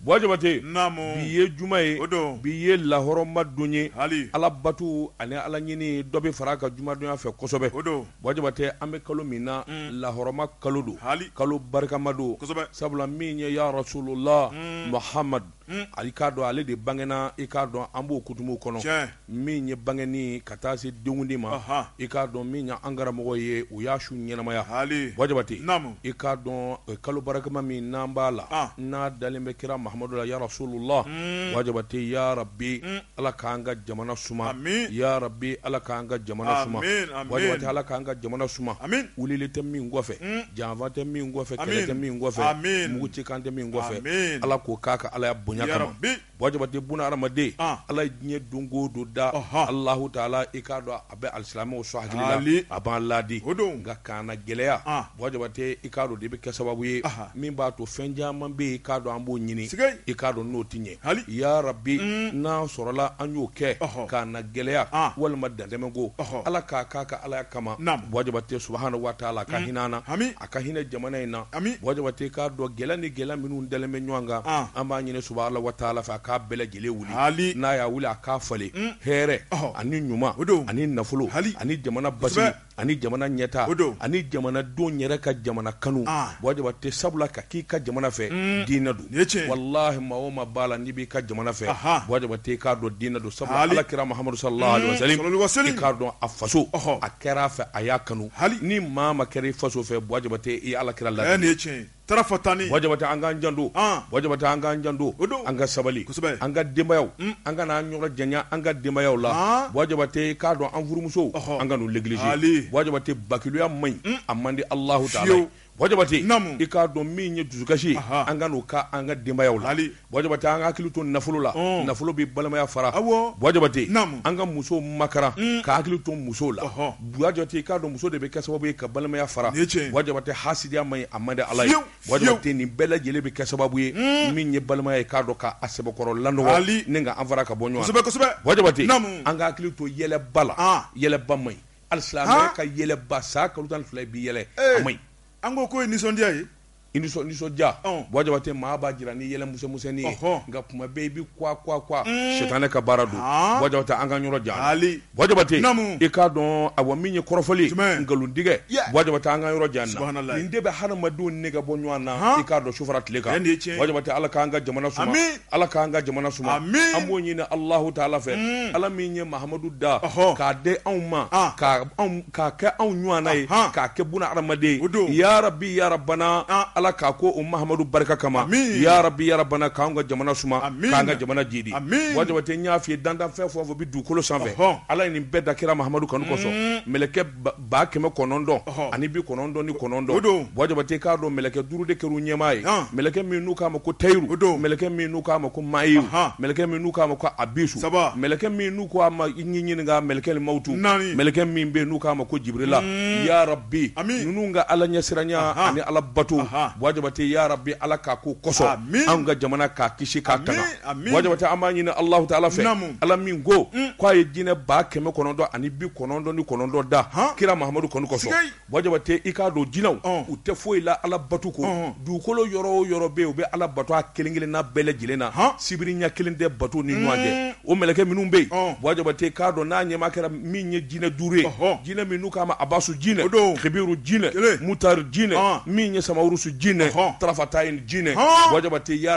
Buwa Jabate, naamu, bi ye juma ye, o don, bi ye lahɔrɔma don ye, hali, Ala bato ani Ala ɲini dɔ bɛ fara a ka jumadonya fɛ kosɛbɛ, o don, Buwa Jabate an bɛ kalo min na, un, lahɔrɔma kalo don, haali, kalo barikama don, kosɛbɛ, sabula min ye ya rasulula, un, Mahamadu, un, i k'a dɔn ale de bangena i k'a dɔn an b'o kutumu kɔnɔ, tiɲɛ. min ye bangeni ka taa se denkundi ma i k'a dɔn min ye an karamɔgɔ ye u y'a su ɲɛnamaya hali Buwa Jabate i k'a dɔn kalo barikama min n'an b'a la n'a dalen bɛ kira mahamadu la ya rasulula Buwa Jabate ya rabi ala k'an ka jamana suma ya rabi ala k'an ka jamana suma ala k'an ka jamana suma wulili tɛ min kɔfɛ janfa tɛ min kɔfɛ kɛlɛ tɛ min kɔfɛ mugu ci kan tɛ min kɔfɛ ala k'o k'a ka alaya bonya kama ya rabi Buwa Jabate buna hadamaden ala ye diɲɛ don o don da alahu taala i k'a dɔn a bɛ alisilamɛw sɔn hakili la a b'an laadi o don nka kannagɛlɛya Buwa Jabate i k'a dɔn de bɛ kɛ sababu ye min b'a to fɛn caman bɛ yen i k'a dɔn an b'o ɲini i k'a dɔn n'o tɛ ɲɛ hali ya rabi n'a sɔrɔla an y'o kɛ kannagɛlɛya walima dantɛmɛ ko ala k'a k'a ka alaya kama Buwa Jabate subuhanahu wa taala ka hinɛ an na ami ka hinɛ jamana in na ami Buwa Jabate k'a dɔn gɛlɛya ni gɛlɛya minnu dalen bɛ ɲɔgɔn kan an b'a ɲini subuhanahu wa taala fɛ a k'a bɛɛ lajɛlen wuli hali n'a y'a wuli a k'a falen hɛrɛ ani ɲuman o don ani nafolo hali ani jamana basigi ani jamana ɲɛta o don ani jamanadenw yɛrɛ ka jamana kanu Buwa Jabate sabula ka k'i ka jamana fɛ diinɛ don walahi maa o ma b'a la n'i b'i ka jamana fɛ tɛ k'a dɔn diinɛ don sabu ala kira mahamadu sa k'a dɔn a faso a kɛra a fɛ a y'a kanu hali ni maa ma kɛra i faso fɛ tɛ ala kira la tan ni an ka janto an ka janto an ka sabali an ka denbaya an ka anan ɲɔgɔn jan an ka denbayayaw la tɛ k'a dɔn an furumuso an ka gilisi tɛ bakiya man ɲi a man di alah Buwa Jabate i k'a dɔn min ye dusukasi ye an kan'o k'an ka denbayaw la Buwa Jabate an ka hakili to nafolo la nafolo bɛ balimaya fara Buwa Jabate an ka musow makaran ka hakili to musow la Buwa Jabate i k'a dɔn muso de bɛ kɛ sababu ye ka balimaya fara Buwa Jabate hasidiya man ɲi a man di ala ye Buwa Jabate nin bɛɛ lajɛlen bɛ kɛ sababu ye min ye balimaya ye k'a dɔn k'a sɛbɛkɔrɔ lanɔgɔ ni k'an fara ka bɔ ɲɔgɔn na Buwa Jabate an ka hakili to yɛlɛba la yɛlɛba man Alisilamɛ ka yɛlɛba san kalo tan ni fila bi yɛlɛ a man ɲi an ko k'o ye nisɔndiya ye i nisɔndiya Buwa Jabate maa b'a jira ni yɛlɛ musɛmusɛnin ye nka kuma bɛɛ i bɛ kuwa kuwa kuwa sitanɛ ka baara don Buwa Jabate an k'an yɔrɔ jan Buwa Jabate i k'a dɔn awa min ye kɔrɔfɔli jumɛn nkalontigɛ Buwa Jabate an k'an yɔrɔ jan a la nin de bɛ hadamadenw nege bɔ ɲɔgɔn na i k'a dɔn su fara tile kan Buwa Jabate ala k'an ka jamana Ala k'an ka jamana suma amina an b'o ɲini Alahu taala fɛ mm. Ala min ye Mahamadu da k'a di anw ma ah. k'a kɛ anw ɲɔana ye k'a kɛ buna adamaden ye yarabi yarabana ah. Ala k'a ko o Mahamadu barika kama yarabi yarabana k'anw ka jamana suma k'an ka jamana jiidi Buwa Jabate n y'a f'i ye dantanfɛn fɛn o fɛn bɛ dugukolo sanfɛ Ala ye nin bɛɛ da kira Mahamadu kanu kosɔn mm. mɛlɛkɛ ba kɛmɛ kɔnɔntɔn ani bi kɔnɔntɔn ni kɔnɔntɔn don Buwa Jabate k'a dɔn mɛlɛkɛ duuru de kɛr'u ɲɛmaa ye mɛlɛkɛ min n'u k'a ma ko Tayiru o don mɛlɛkɛ min n'u k'a ma ko Mayiru mɛlɛkɛ min n'u k'a ma ko Abisu saba mɛlɛkɛ min n'u k'a ma i ɲininka mɛlɛkɛ ni mawutu naani mɛlɛkɛ min bɛ yen n'u k'a ma ko Jibrila yarabi ninnu ka ala ɲɛsiranya ani ala bato Buwa Jabate yarabi ala k'a k'o kosɔn amin anw ka jamana k'a kisi k'a tanga Buwa Jabate an b'a ɲini alahu taala fɛ ala min ko k'a ye jinɛ ba kɛmɛ kɔnɔntɔn ani bi kɔnɔntɔn ni kɔnɔntɔn da kira Mahamadu kanu kosɔn Buwa Jabate i k'a dɔn jinɛw u tɛ foyi la ala bato kɔ dugukolo yɔrɔ o yɔrɔ bɛ yen u bɛ ala bato a kelen- kelenna bɛɛ lajɛlen na h sibiri ɲɛ kelen tɛ bato ni ɲɔgɔn cɛ o mɛlɛkɛ minnu bɛ yen Buwa Jabate k'a dɔn n'a ɲɛmaa kɛra min ye jinɛ duuru ye jinɛ min n'u k'a ma Abasu jinɛ Kibiru jinɛ Mutari jinɛ min ye Samawurusu jinɛ Tarafatayin jinɛ Buwa Jabate ya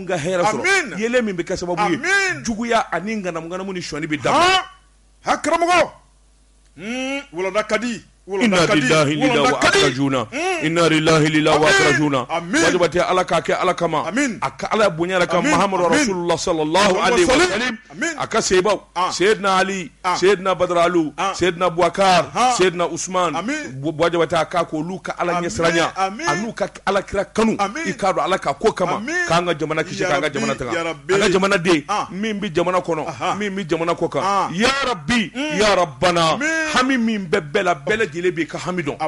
ka hɛrɛ sɔrɔ Amina Amina yeelen min bɛ kɛ sababu ye Amina juguya ani ŋanamu ŋanamu ni sɔnni bɛ dabila haan ha karamɔgɔ huun walanda ka di walanda ka di walanda ka di huun inna lillahi lila wa akrajuna Amina Buwa Jabate Ala k'a kɛ Ala kama Amina a ka Ala bonya yɛrɛ kama Amina Mahamadu Amina rasulula salalahu alehi wa salim a ka sahabaw seyidina Ali seyidina baralu seyidina buwakari seyidina Usumani Buwa Jabate a k'a k'olu ka ala ɲɛ siranya an'u ka ala kira kanu i k'a dɔn ala k'a k'o kama k'an ka jamana kisi k'an ka jamana tanga an ka jamana den min bɛ jamana kɔnɔ min bɛ jamana kɔ kan yarabi yarabana hami min bɛ bɛɛ la bɛɛ lajɛlen b'i ka hami dɔn a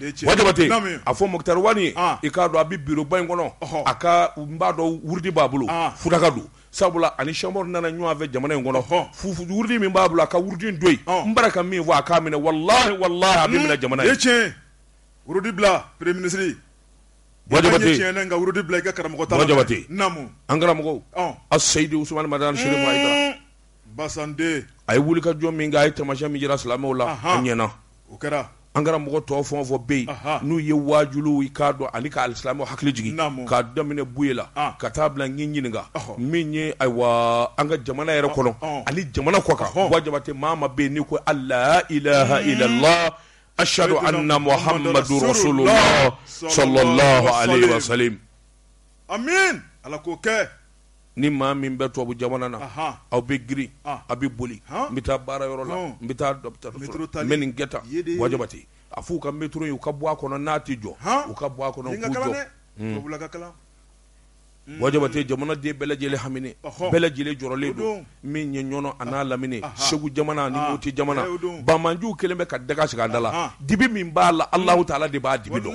jabate a fɔ Mɔkitari Wani i k'a dɔn a bɛ biroba in kɔnɔ a ka n b'a dɔn wurudi b'a bolo Futaka don sabula a ni Sɛku Umaru nana ɲɔgɔn fɛ jamana in kɔnɔ hɔn fu fu wurudi min b'a bolo a ka wurudi don n bara ka min fɔ a k'a minɛ wala walahi a bɛ jamana ye tiɲɛ wurudi bila peremiye minisiri ka wurudi bila i ka karamɔgɔ jabate an karamɔgɔ Aseyidu a ye wulikajɔ min kɛ a ye taamasiyɛn min jira silamɛw la an ɲɛna o kɛra an karamɔgɔ tɔw fɛn o fɛn bɛ yen n'u ye wajuli i k'a dɔn ani ka alisilamɛ hakili jigin k'a daminɛ buye la ka taa bila i ɲininka min ye ayiwa an ka jamana yɛrɛ kɔnɔ ani jamana kɔ kan Buwa Jabate maa o maa bɛ yen n'i ko la ilaha ilalahu asihadu ana Mahamadu rasulula salalahu alehi wa salim ala k'o kɛ ni maa min bɛ tubabu jamana na aw bɛ girin aw bɛ boli n bɛ taa baara yɔrɔ la n bɛ taa n bɛ nin kɛ tan Buwa Jabate a f'u ka métro ye u ka bɔ a kɔnɔ n'a tɛ jɔ u ka bɔ a kɔnɔ Buwa Jabate jamanaden bɛɛ lajɛlen haminen bɛɛ lajɛlen jɔrɔlen don min ye Ɲɔnɔ a n'a lamini segu jamana ni moti jamana banbaanciw kɛlen bɛ ka daga sigi a da la dibi min b'a la Alahu taala de b'a dibi dɔn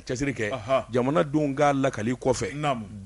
cɛsiri kɛ jamanadenw k'a lakali kɔfɛ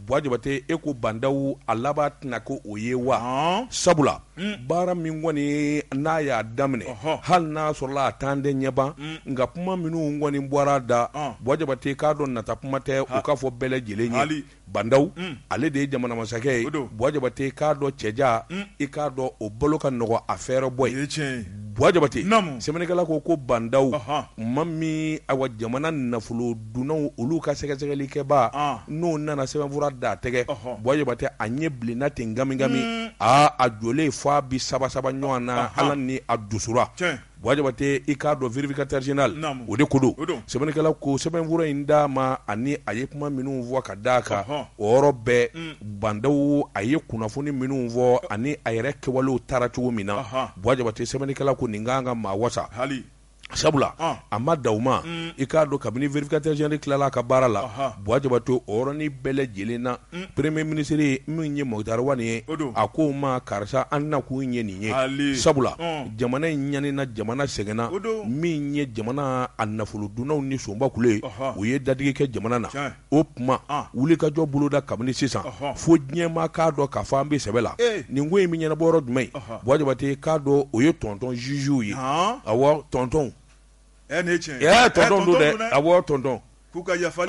Buwa Jabate e ko Ba Ndaw a laban tɛna kɛ o ye wa sabula baara min kɔni n'a y'a daminɛ hali n'a sɔrɔ a tan tɛ ɲɛban nka kuma minnu kɔni bɔra a da Buwa Jabate k'a dɔn nata kuma tɛ o k'a fɔ bɛɛ lajɛlen Ba Ndaw ale de ye jamana masakɛ ye Buwa Jabate k'a dɔn cɛja i k'a dɔn o bolo ka nɔgɔ a fɛɛrɛ bɔ ye Buwa Jabate sɛbɛnnikɛla ko ko Ba Ndaw maa min awa jamana nafolo dunnaw olu ka sɛgɛsɛgɛlikɛba n'o nana sɛbɛnfura d'a tɛgɛ Buwa Jabate a ɲɛ bilenna ten nkamikami aa a jɔlen fɔ a bi saba saba ɲɔgɔn na ala ni a dusukura Buwa Jabate i k'a dɔn vérificateur général o de ko don sɛbɛnnikɛla ko sɛbɛnfura in d'a ma ani a ye kuma minnu fɔ ka d'a kan o yɔrɔ bɛɛ Ba Ndaw a ye kunnafoni minnu fɔ ani a yɛrɛ kɛwalew taara cogo min na Buwa Jabate sɛbɛnnikɛla ko nin ka kan ka maa wasa hali sabula a ma da u ma i k'a dɔn kabini vérificateur général tilala ka baara la Buwa Jabate o yɔrɔnin bɛɛ lajɛlen na premier ministre min ye Mɔkitari Wani ye a ko maa karisa an na kun ye nin ye sabula jamana in ɲanina jamana sɛgɛnna min ye jamana a nafolo dunnaw ni sonba kulu ye u ye dadigi kɛ jamana na o kuma wuli ka jɔ boloda kabini sisan fo diɲɛma k'a dɔn k'a fɔ an bɛ sɛbɛ la nin ko in bɛ ɲɛnabɔ yɔrɔ jumɛn Buwa Jabate k'a dɔn o ye tɔntɔn zuzu ye awɔ tɔntɔn ɛ nin ye tiɲɛ ye ɛ tɔntɔn don dɛ awɔ tɔntɔn k'u ka yafa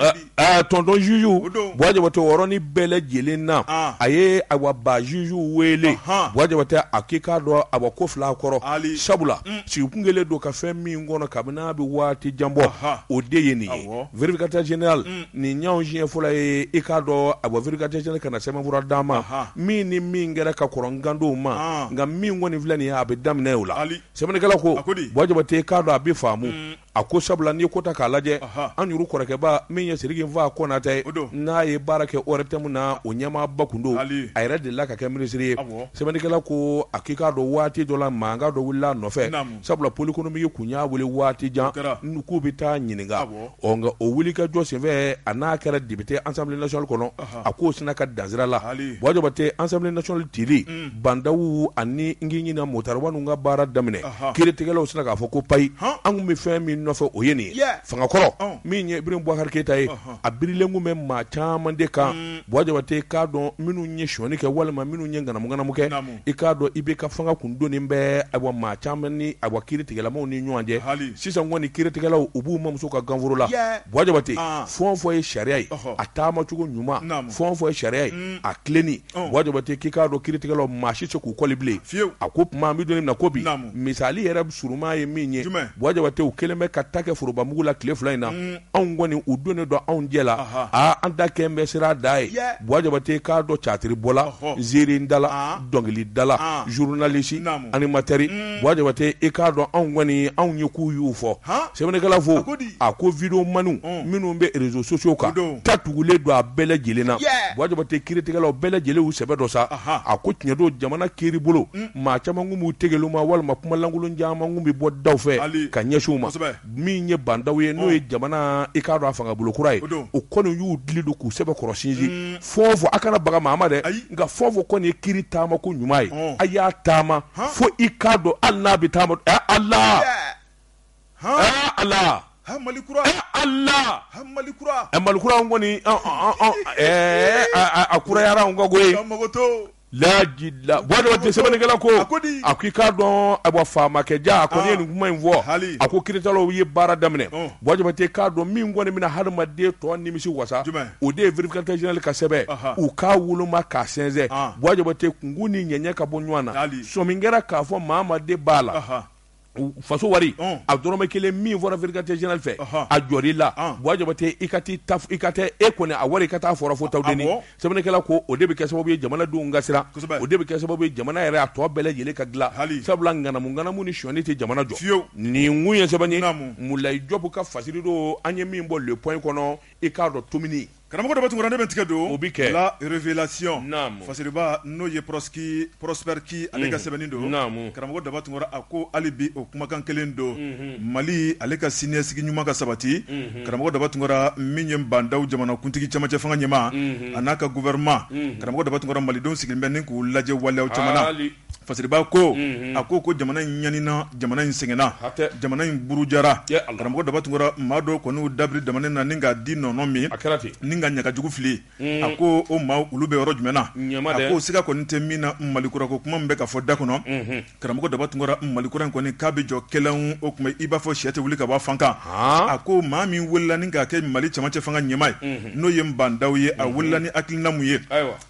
tɔntɔn zuzu Buwa Jabate yɔrɔnin bɛɛ lajɛlen na a ye awa ba zuzu wele Buwa Jabate a k'i k'a dɔn a ko fila kɔrɔ sabula sigi kun kɛlen don ka fɛn min kɔnɔ kabini a bɛ waati jan bɔ o de ye nin ye vérificateur général nin y'an siɲɛ fɔlɔ ye i k'a dɔn awa vérificateur général ka na sɛbɛnfura d'a ma min ni min kɛra ka kɔrɔ Ba Ndaw ma nka min kɔni filɛ nin ye a bɛ daminɛ o la Sɛbɛnnikɛla ko, a ko di, Buwa Jabate k'a dɔn a bɛ faamu, un, a ko sabula n'i ye ko ta k'a lajɛ, ɔhɔ, an yuru kɔrɔkɛba min ye Sidiki Nfa Konatɛ ye, o don, n'a ye baara kɛ ORTM na, o ɲɛmaaba kun don, Aali, a yɛrɛ delila ka kɛ minisiri ye, awɔ, sɛbɛnnikɛla ko a k'i k'a dɔn waati dɔ la mankan dɔ wulila a nɔfɛ, naamu, sabula Pôle économique kun y'a wele waati jan, o kɛra, k'u bɛ taa a ɲininka, awɔ ɔ nka o wuli ka jɔ senfɛ a n'a kɛra député assemblée nationale kɔnɔ a k'o sina ka dan sira la Buwa Jabate assemblée nationale cili Ba Ndaw ani n k'i ɲina Moctar Ouane ka baara daminɛ kiiritigɛlaw sina k'a fɔ ko payi an kun bɛ fɛn min nɔfɛ o ye nin ye fanga kɔrɔ min ye Ibrahim Boubacar Keïta ye a birilen kun bɛ maa caman de kan Buwa Jabate k'a dɔn minnu ye sonyani kɛ walima minnu ye ŋanamu-ŋanamu kɛ i k'a dɔn IBK fanga kun donnen bɛ awa maa caman ni awa kiiritigɛlamaw ni ɲɔgɔn cɛ sisan kɔni kiiritigɛlaw u b'u mamuso ka ganforo la Buwa Jabate fɛn o fɛn ye sariya ye a taamacogo ɲuman fɛn o fɛn ye sariya ye a tilenni Buwa Jabate k'i k'a dɔn kiiritigɛlaw maa si se k'u kɔli bilen a ko tuma an bɛ don min na ko bi misali yɛrɛ surunma ye min ye Buwa Jabate u kɛlen bɛ ka ta kɛ forobamugu la tile fila in na anw kɔni u donnen don anw jɛ la aa an da kɛlen bɛ sira da ye Buwa Jabate i k'a dɔn catiri bɔla ziiri dala dɔnkili dala journaliste animateur Buwa Jabate i k'a dɔn anw kɔni anw ye k'u y'u fɔ sɛbɛnnikɛla fo a ko vidéomanw minnu bɛ réseaux sociaux kan ta tugulen don a bɛɛ lajɛlen na Buwa Jabate kiiritigɛlaw bɛɛ lajɛlen y'u sɛbɛ don sa a ko tiɲɛ don jamana kiiri bolo maa caman kun b'u tigɛ ma walima kumalankolon caman kun bɛ bɔ daw fɛ ka ɲɛsin u ma min ye Ba Ndaw ye n'o ye jamana i k'a dɔn a fanga bolokura ye o kɔni y'u dili don k'u sɛbɛ kɔrɔsinsin fɛn o fɛn a kana baga maa ma dɛ nka fɛn o fɛn kɔni ye kiiri taamako ɲuman ye a y'a taama fo i k'a dɔn hali n'a bɛ taama a la a la malikura a la malikura kɔni a kura sɛbɛnnikɛla ko a k'i k'a dɔn a bɔ faamakɛ ja a kɔni ye nin kuma in fɔ a ko kiiritigɛlaw ye baara daminɛ Buwa Jabate k'a dɔn min kɔni bɛna hadamaden tɔ nimisi wasa o de ye vérificateur général ka sɛbɛn u k'a woloma k'a sɛnsɛn Buwa Jabate kungun ni ɲɛɲɛ ka bɔ ɲɔgɔn na sɔmi kɛra k'a fɔ maa ma de b'a la faso wari a dɔrɔmɛ kelen min fɔra vérificateur général fɛ a jɔr'i la Buwa Jabate i ka t'i ta i ka tɛ e kɔni a wari i ka taa fɔra fo Tawudeni sɛbɛnnikɛla ko o de bɛ kɛ sababu ye jamanadenw ka siran o de bɛ kɛ sababu ye jamana yɛrɛ a tɔ bɛɛ lajɛlen ka dilan sabula ŋanamu ŋanamu ni sonyani tɛ jamana jɔ nin kun ye sɛbɛnni ye Mulayi Jɔpu ka fasiri don an ye min bɔ le point kɔnɔ i k'a dɔn tominin Karamɔgɔ daba tunkara ne bɛ n tɛgɛ don o bɛ kɛ la révélation naamu fasiriba n'o ye Prosper Ki ale ka sɛbɛnni don naamu karamɔgɔ daba tunkara a ko hali bi o kumakan kelen don Mali ale ka siniɲɛsigi ɲuman ka sabati karamɔgɔ daba tunkara min ye Ba Ndaw jamanakuntigi camancɛ fanga ɲɛmaa a n'a ka gouvernement karamɔgɔ daba tunkara malidenw sigilen bɛ ni k'u lajɛ waleyaw caman na. fasiriba ko a ko ko jamana in ɲanina jamana in sɛgɛnna jamana in burujara karamɔgɔ daba tunkara maa dɔw kɔni y'u da biri jamana na ni k'a di nɔnɔ min a kɛra ten ni k'a ɲaga jugu fili a ko o maa olu bɛ yɔrɔ jumɛn na a ko siga kɔni tɛ min na mali kura ko kuma min bɛ ka fɔ da kɔnɔ karamɔgɔ daba tunkara mali kura in kɔni k'a bɛ jɔ kɛlɛ o tuma i b'a fɔ sɛ tɛ wuli ka bɔ fan kan a ko maa min wulila ni k'a kɛ mali camancɛ fanga ɲɛmaa ye n'o ye ba ndaw ye a wulila ni hakilina mun ye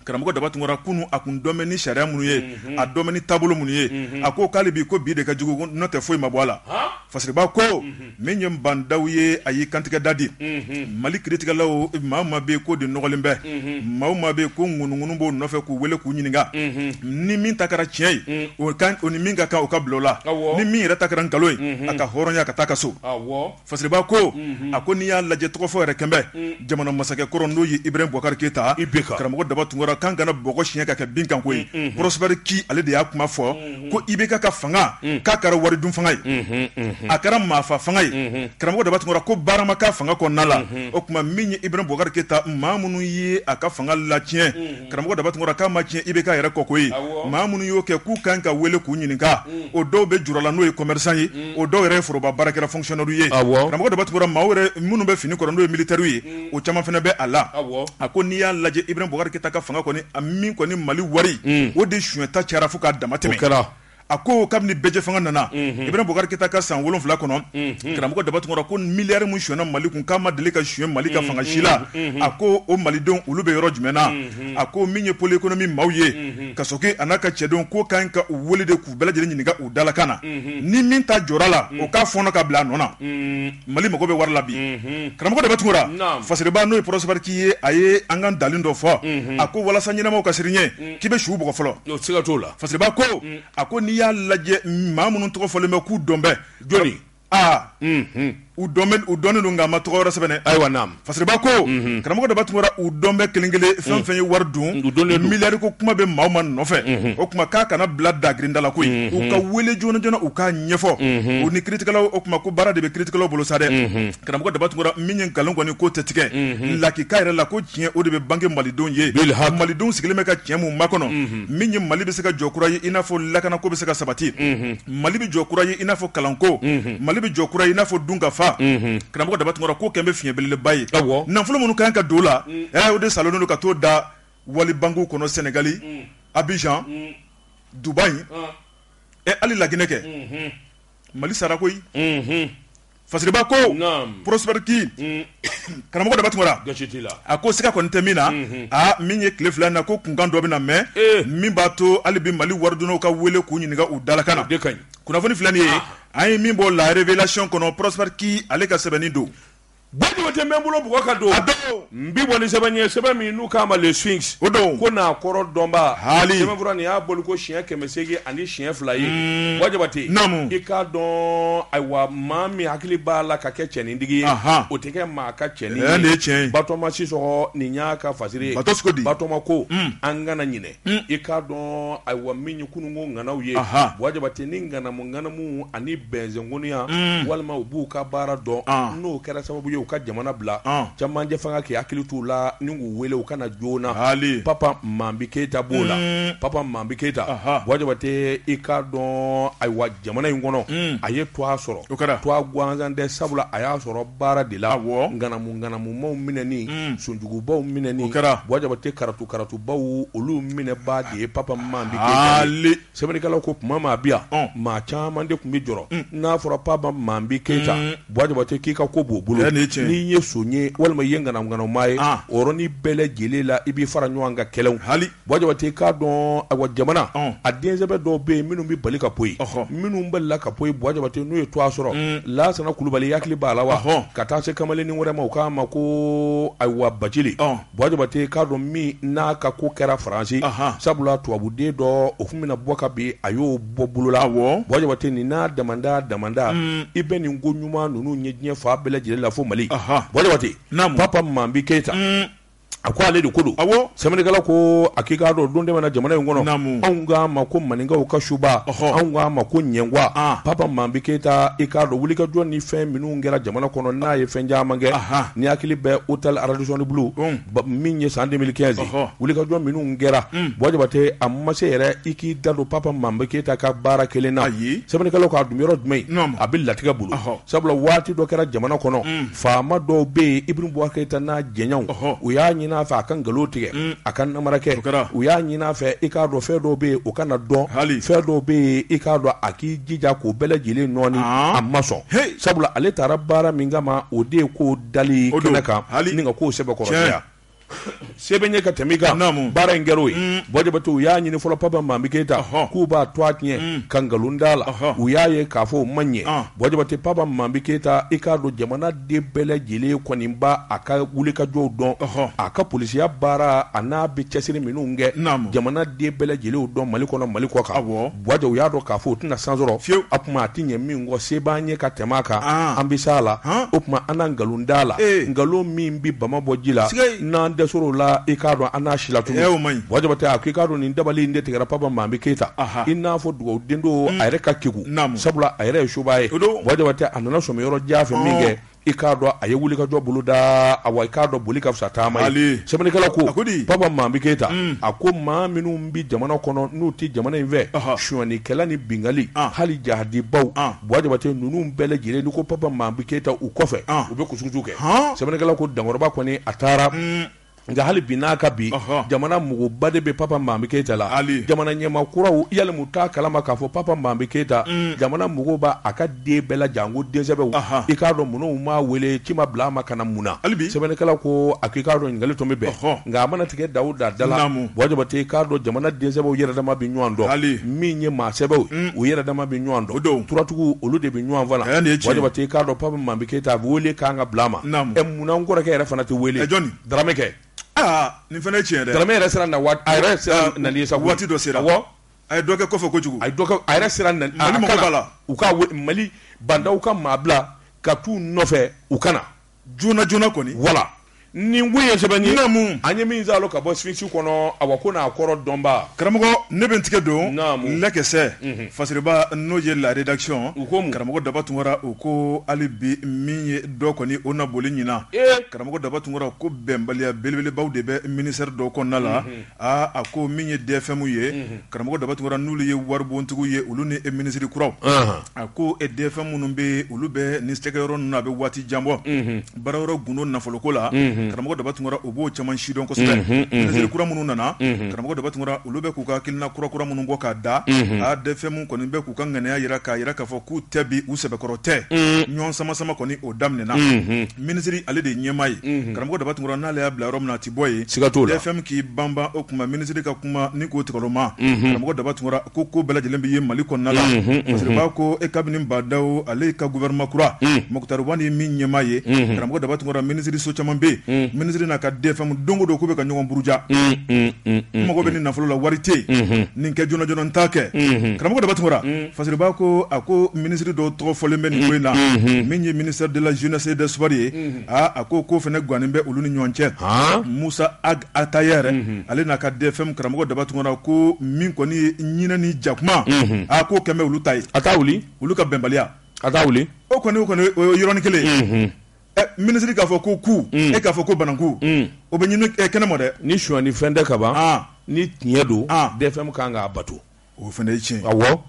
Karamɔgɔ Daba Tunkara kunu, a kun dɔn bɛ ni sariya minnu ye, unhun, a dɔn bɛ ni taabolo minnu ye, unhun, a ko k'ale bi ko bi de ka jugu n'o tɛ foyi ma bɔ a la, han, Fasiriba ko, unhun, min ye Ba Ndaw ye a y'i kantigɛ da di, unhun, Mali kiritigɛlaw maa o maa bɛ yen k'o de nɔgɔlen bɛ, unhun, maa o maa bɛ yen ko ŋunuŋunu b'o nɔfɛ k'u wele k'u ɲininka, unhun, ni min ta kɛra tiɲɛ ye, un, o ka o ni min ka kan o ka bila o la, awɔ, ni min yɛrɛ ta kɛra nkalon ye, unhun, a ka hɔrɔnya ka taa a ka so, awɔ Fasiriba ko a ko n'i y'a lajɛ tɔgɔ fɔ yɛrɛ kɛn bɛ jamana masakɛ kɔrɔ n'o ye Ibrahim Boubacar Keita karamɔgɔ daba tunkara k'an kana bɔgɔ siɲɛ ka kɛ bin kan koyi Prosper Ki ale de y'a kuma fɔ ko IBK ka fanga k'a kɛra wari dun fanga ye a kɛra maafa fanga ye karamɔgɔ daba tunkara ko barama ka fanga kɔnɔna la o tuma min ye Ibrahim Boubacar Keita maa minnu ye a ka fanga latiɲɛ karamɔgɔ Daba Tunkara k'a ma tiɲɛ IBK yɛrɛ kɔ koyi, awɔ, maa minnu y'o kɛ k'u ka kan ka wele k'u ɲininka o dɔw bɛ jura la n'o ye commerçant ye o dɔw yɛrɛ ye foroba baarakɛla fonctionnaires ye, awɔ, karamɔgɔ Daba Tunkara maaw yɛrɛ minnu bɛ fini kɔrɔ n'o ye militaires ye o caman fana bɛ a la, awɔ, a ko n'i y'a lajɛ Ibrahim Boubacar Keita ka fanga kɔni a min kɔni Mali wari o de sonyɛta cayara fo k'a damatɛmɛn, o kɛra a ko kabini bɛɛjɛ fanga nana mhm. Ibrahim Boubacar Keita ka san wolonwula kɔnɔ mhm. karamɔgɔ daba tunkara ko miliyari min suɲɛna mali kun k'a ma deli ka suɲɛ mali ka mhm. fanga si la a ko o malidenw olu bɛ yɔrɔ jumɛn na a ko min ye pôle économique maaw ye Kassogué a n'a ka cɛdenw k'o ka ɲi ka u wele de k'u bɛɛ lajɛlen ɲininka u dalakan na ni min ta jɔra la o k'a fɔɔnɔ ka bila a nɔ na mali mago bɛ wari la bi karamɔgɔ daba tunkara fasiriba n'o ye Prosper Ki ye a ye an ka ntalen dɔ fɔ a ko walasa ɲɛnamaw ka siran i ɲɛ k'i bɛ su bugɔ fɔlɔ se ka t'o la fasiriba ko a ko n'i y'a lajɛ maa minnu tɔgɔ fɔlen bɛ k'u dɔn bɛ jɔn aa u u dɔnnen don nka ma tɔgɔ sɛbɛn ayiwa fasiriba ko karamɔgɔ daba tunkara u dɔn bɛ kelen kelen fɛn fɛn ye wari dun miliyari ko kuma bɛ maa o maa nɔfɛ o tuma k'a kana bila dagirinda la koyi u ka wele joona joona u k'a ɲɛfɔ u ni kiiritigɛlaw o tuma ko baara de bɛ kiiritigɛlaw bolo sa dɛ Karamɔgɔ daba tunkara min ye nkalon kɔni ko tɛ tigɛ lakika yɛrɛ la ko tiɲɛ o de bɛ bange malidenw ye malidenw sigilen bɛ ka tiɲɛ min makɔnɔ min ye mali bɛ se ka jɔ kura ye i n'a fɔ lakanako bɛ se ka sabati mali bɛ jɔ kura ye i n'a fɔ kalanko mali bɛ jɔ kura ye i n'a fɔ dunkafa karamɔgɔ daba tunkara k'o kɛn bɛ fiɲɛ belebeleba ye nafolo minnu kan ka don a la o de salonnen don ka t'o da wali banki kɔnɔ sɛnɛgali abijan dubayi ɛ hali laginɛ kɛ mali sara koyi Fasiriba ko Prosper Ki karamɔgɔ Daba Tunkara a ko siga kɔni tɛ min na aa min ye tile fila na ko kunkan dɔ bɛ na mɛ min b'a to hali bi mali waridunnaw ka weele k'u ɲininka u dalakan na kunnafoni filɛ nin ye an ye min bɔ La Révélation kɔnɔ Prosper Ki ale ka sɛbɛnni don Buwa Jabate n bɛ bolo bugɔ ka don N bi bɔ ni sɛbɛn ye sɛbɛn min n'u k'a ma le Sphinx o don ko n'a kɔrɔ dɔnbaa haali sɛbɛnfura nin y'a bɔli ko siɲɛ kɛmɛ seegin ani siɲɛ fila ye umm Buwa Jabate naamu i k'a dɔn ayiwa maa min hakili b'a la ka kɛ cɛnintigi ye anhan o tɛ kɛ maa ka cɛnin ye nin ye tiɲɛ ye Batɔɔma Sisɔkɔ nin y'a ka fasiri ye Batɔɔma ko di Batɔɔma ko umm an kana ɲinɛ i k'a dɔn ayiwa min ye kununko ŋanaw ye Buwa Jabate ni ŋanamu ŋanamu ani bɛnzgoniya walima u b'u ka baara dɔn n'o kɛra sababu ye u ka jamana bila camancɛ fanga k'i hakili t'u la ni k'u wele u ka na joona hali Papa Manbi Keyita b'o la Papa Manbi Keyita Buwa Jabate i k'a dɔn ayiwa jamana in kɔnɔ a ye tɔgɔ sɔrɔ o kɛra tɔgɔ gansan tɛ sabula a y'a sɔrɔ baara de la ŋanamu ŋanamu maaw minɛni son jugubaw minɛni kɛra Buwa Jabate karatu karatubaw olu minɛbaa de ye Papa Manbi Keyita ye sɛbɛnnikɛlaw ko tuma min a bi yan maa caman de tun bɛ jɔrɔ n'a fɔra Papa Manbi Keyita Buwa Jabate k'i ka ko b'o bolo n'i ye son ye walima i ye ŋanamuŋanamu maa ye o yɔrɔnin bɛɛ lajɛlen la i b'i fara ɲɔgɔn kan kelewu Jabate k'a dɔn ayiwa jamana a densɛbɛ dɔw bɛ yen minnu bɛ bali ka poyi minnu balila ka poyi Buwa Jabate n'u ye tɔgɔ sɔrɔ Lasana Kulubali i hakili b'a la wa ka taa se kamalennin wɛrɛ ma u k'a ma ko ayiwa Bacili Buwa Jabate k'a dɔn min n'a ka ko kɛra Faransi sabula tubabuden dɔ o tun bɛna bɔ ka bin a y'o bɔ bolo la Buwa Jabate nin n'a damanda damanda i bɛ nin ko ɲuman ninnu ye diɲɛ fan bɛɛ lajɛlen la fo Mali Buwa Jabate Papa Manbi Keyita A ko ale de ko don sɛbɛnnikɛla ko a k'i k'a dɔn don dɛmɛ na jamana in kɔnɔ anw k'a ma ko maninkaw ka suba anw k'a ma ko ɲɛgwan Papa Manbi Keyita i k'a dɔn wulikajɔ ni fɛn minnu kɛra jamana kɔnɔ n'a ye fɛn caman kɛ n'i hakili bɛ hôtel Radisson Blu min ye san deux mille quinze wulikajɔ minnu kɛra Buwa Jabate a ma se yɛrɛ i k'i da don Papa Manbi Keyita ka baara kɛlen na sɛbɛnnikɛla k'a dun yɔrɔ jumɛn a bɛ latigɛ bolo sabula waati dɔ kɛra jamana kɔnɔ faama dɔw bɛ yen Ibrahim Boubacar Keïta n'a jɛɲɔgɔnw, ɔhɔ, u y'a ɲini a fɛ a ka nkalon tigɛ, un, a ka namara kɛ, o kɛra, u y'a ɲini a fɛ i k'a dɔn fɛn dɔw bɛ yen o kana dɔn, hali, fɛn dɔw bɛ yen i k'a dɔn a k'i jija k'o bɛɛ lajɛlen nɔɔni, aa, a ma sɔn, heyi, sabula ale taara baara min kama o de ye ko dali kɛnɛ kan, o don, hali, ni ka k'o sɛbɛkɔrɔ sɛɲɛn, tiɲɛ sɛbɛ ye ka tɛmɛ kan baara in kɛra o ye Buwa Jabate u y'a ɲini fɔlɔ Papa Manbi Keyita k'u b'a to a tiɲɛ ka nkalon d'a la u y'a ye k'a fɔ o ma ɲɛ Buwa Jabate Papa Manbi Keyita i k'a dɔn jamanaden bɛɛ lajɛlen kɔni b'a ka wulikajɔw dɔn a ka polisiya baara a n'a bɛ cɛsiri minnu kɛ jamanaden bɛɛ lajɛlen dɔn Mali kɔnɔ Mali kɔkan bɔ Buwa jɔ u y'a dɔn k'a fɔ u tɛna san sɔrɔ fiyewu, a tuma a tɛ ɲɛ min kɔ se b'an ye ka tɛmɛ a kan, an, an bɛ s'a la, han, o tuma an na nkalon d'a la, ee, nkalon min bɛ bama bɔ ji la, sikei, n'an dɛsɛra o la i k'a dɔn an n'a silatunu, ee, o ma ɲi, Buwa Jabate a ko i k'a dɔn nin dabali in de tigɛra Papa Manbi Keyita, aha, i n'a fɔ dugawu den don, un, a yɛrɛ ka kegun, naamu, sabula a yɛrɛ ye subaa ye, o don, Buwa Jabate a nana sɔmi yɔrɔ jan fɛ, ɔɔ, min kɛ i k'a dɔn a ye wulikajɔ boloda awa i k'a dɔn boli ka fisa taama ye sɛbɛnnikɛla ko Papa Manbi Keyita mm. a ko maa minnu bɛ jamana kɔnɔ n'u tɛ jamana in fɛ sonyɛnikɛla ni binkanni ah. hali jahadibaw ah. Buwa Jabate ninnu bɛɛ lajɛlen n'i ko Papa Manbi Keyita u kɔfɛ ah. u bɛ kusukusu kɛ sɛbɛnnikɛla ko Dankɔrɔba kɔni a taara mm. nka hali bi n'a ka bi jamana magoba de bɛ Papa Manbi Keyita la jamana ɲɛmaa kuraw yali u t'a kalama k'a fɔ Papa Manbi Keyita mm. jamana mago b'a ka den bɛɛ la janko densɛbɛw i k'a dɔn minnu ma wele ci ma bila a ma ka na mun na hali sɛbɛnnikɛla ko a k'i k'a dɔn ɲininkali tun bɛ bɛn nka a mana tigɛ Dawuda da la Buwa Jabate i k'a dɔn jamana densɛbɛw yɛrɛdama bɛ ɲɔgɔn dɔn min ye maa sɛbɛw mm. u yɛrɛdama bɛ ɲɔgɔn dɔn don turatigiw olu de bɛ ɲɔgɔn fa la Buwa Jabate i k'a dɔn Papa Manbi Keyita a bɛ wele k'an ka bila a ma Munna n kɔrɔkɛ yɛrɛ fana tɛ wele? Ɛ jɔni? Darame kɛ. Aa nin fana ye tiɲɛ ye dɛ. Darame yɛrɛ sera na waati, a yɛrɛ sera nali ye sa koyi. Waati dɔ sera. Awɔ. A ye dɔ kɛ kɔfɛ kojugu. A ye dɔ kɛ, a yɛrɛ sera nali, Mali mago b'a la. U ka wele, Mali Ba Ndaw ka maa bila ka t'u nɔfɛ u ka na. Joona joona kɔni. Wala. Nin ko in ye sɛbɛn ye. Naamu! An ye min zaalo ka bɔ Sphinx kɔnɔ, Awa ko n'a kɔrɔ dɔnbaa. Karamɔgɔ, ne bɛ n tigɛ don. Naamu! Lɛ kisɛ. Unhun! Fasiriba n'o ye la rédaction. U ko mun? Karamɔgɔ Daba Tunkara, u ko hali bi min ye dɔ kɔni o na boli ɲinan karamɔgɔ Daba Tunkara ko bɛnbaliya belebelebaw de bɛ ministère dɔ kɔnɔna la aa a ko min ye DFM ye karamɔgɔ Daba Tunkara n'olu ye waribontigiw ye olu ni e minisiri kuraw a ko e DFM minnu bɛ olu bɛ nin sigiyɔrɔ ninnu na a bɛ waati jan bɔ baarayɔrɔ gundo nafoloko la karamɔgɔ Daba Tunkara u b'o caman sidɔn kosɛbɛ minisiri kura minnu nana karamɔgɔ Daba Tunkara olu bɛ k'u ka hakilina kura kura minnu bɔ k'a da a DFM kɔni bɛ k'u ka ŋaniya jira k'a jira k'a fɔ k'u tɛ bi u sɛbɛkɔrɔ tɛ ɲɔgɔn sama sama kɔni o daminɛna minisiri ale de ye ɲɛmaa ye karamɔgɔ Daba Tunkara n'ale y'a bila yɔrɔ min na a tɛ bɔ yen siga t'o la DFM k'i banban o tuma minisiri ka kuma ni k'o tɔgɔma karamɔgɔ Daba Tunkara ko bɛɛ lajɛlen bɛ ye Mali kɔnɔna la fasiriba ko e kabini Ba Ndaw ale ka gouvernement kura Mukutari Wani ye min ɲɛmaa ye karamɔgɔ Daba Tunkara minisiriso caman bɛ yen minisiri n'a ka DFM don o don k'u bɛ ka ɲɔgɔn buruja mago bɛ nin nafolo la wari tɛ yen nin kɛ joona joona n t'a kɛ karamɔgɔ Daba Tunkara fasiriba ko a ko minisiri dɔw tɔgɔ fɔlen bɛ nin ko in na min ye ministère de la jeunesse et des sports ye aaa a ko ko fana gannen bɛ olu ni ɲɔgɔn cɛ Musa Ag Ataher ale n'a ka DFM karamɔgɔ Daba Tunkara ko min kɔni ye ɲinɛ ni jakuma a k'o kɛlɛ bɛ olu cɛ a t'a wuli olu ka bɛnbaliya a t'a wuli o kɔni o yɔrɔnin kelen Eh, minisiri k'a fɔ ko ku mm. e k'a fɔ ko bananku mm. o bɛ ɲini eh, kɛnɛ ma dɛ ni suɲɛni fɛn tɛ ka ban ah. ni tiɲɛ don ah. dfm kan k'a bato o fana ye tiɲɛ awɔ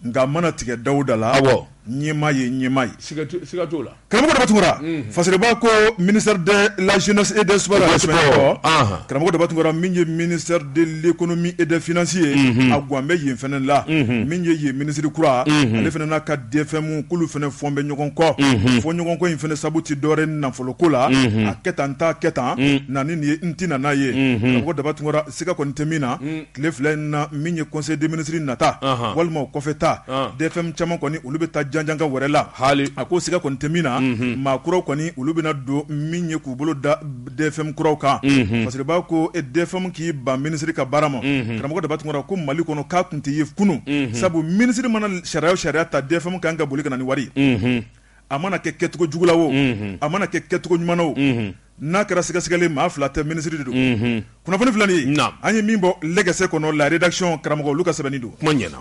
nka mana tigɛ Dawuda la awɔ ɲɛmaa ye ɲɛmaa ye siga t'o la karamɔgɔ daba Tunkara mm. fasiriba ko ministère de la jeunesse et des sports la sɛbɛn kɔ ah. karamɔgɔ daba Tunkara min ye ministère de l'économie et des finances ye mm-hmm. a gwan bɛ yen fana la mm-hmm. min ye yen minisiri kura mm-hmm. ale fana n'a ka DFM k'olu fana fɔɔn bɛ ɲɔgɔn kɔ fɔɲɔgɔnkɔ in fana sabu tɛ dɔwɛrɛ nafoloko la a kɛ tan n t'a kɛ tan na nin ye n tɛ na n'a ye karamɔgɔ Daba Tunkara siga kɔni tɛ min na tile fila in na min ye conseil des ministres nata walima o kɔfɛ ta DFM caman kɔni olu bɛ taa janjaka wɛrɛ la hali a ko siga kɔni tɛ min na maa kuraw kɔni olu bɛna don min ye k'u bolo da DFM kuraw kan, unhun, fasiriba ko DFM k'i ban minisiri ka baara ma, unhun, karamɔgɔ Daba Tunkara ko Mali kɔnɔ k'a kun tɛ ye kunun, unhun, sabu minisiri mana sariya o sariya ta DFM ka kan ka boli ka na ni wari ye, unhun, a mana kɛ kɛcogo jugu la o, unhun, a mana kɛ kɛcogo ɲuman na o, unhun, n'a kɛra sɛgɛsɛgɛli ye maa fila tɛ minisiri de don, unhun, kunnafoni filɛ nin ye, naamu, an ye min bɔ le gese kɔnɔ la rédaction karamɔgɔ olu ka sɛbɛnni don, kuma ɲɛna.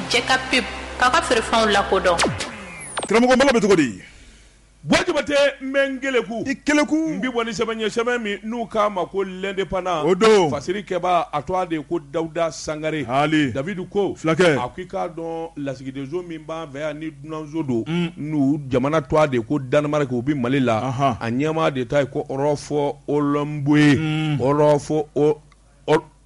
Jɛkapub, k'aw ka feerefɛnw lakodɔn. Karamɔgɔ, Mali bɛ cogo di? Buwa Jabatɛ n bɛ n keleku, i keleku, n bɛ bɔ ni sɛbɛn ye sɛbɛn min n'u k'a ma ko l'indépendant o don, fasiri kɛbaa a tɔgɔ de ye ko Dawuda Sangare, haali, David ko, fulakɛ, a ko i k'a dɔn lasigidenso min b'an fɛ yan ni dunanso don, un, n'u jamana tɔgɔ de ye ko Danemark o bɛ Mali la, anhan, a ɲɛmaa de ta ye ko Rolf Holmboe, un, Rolf O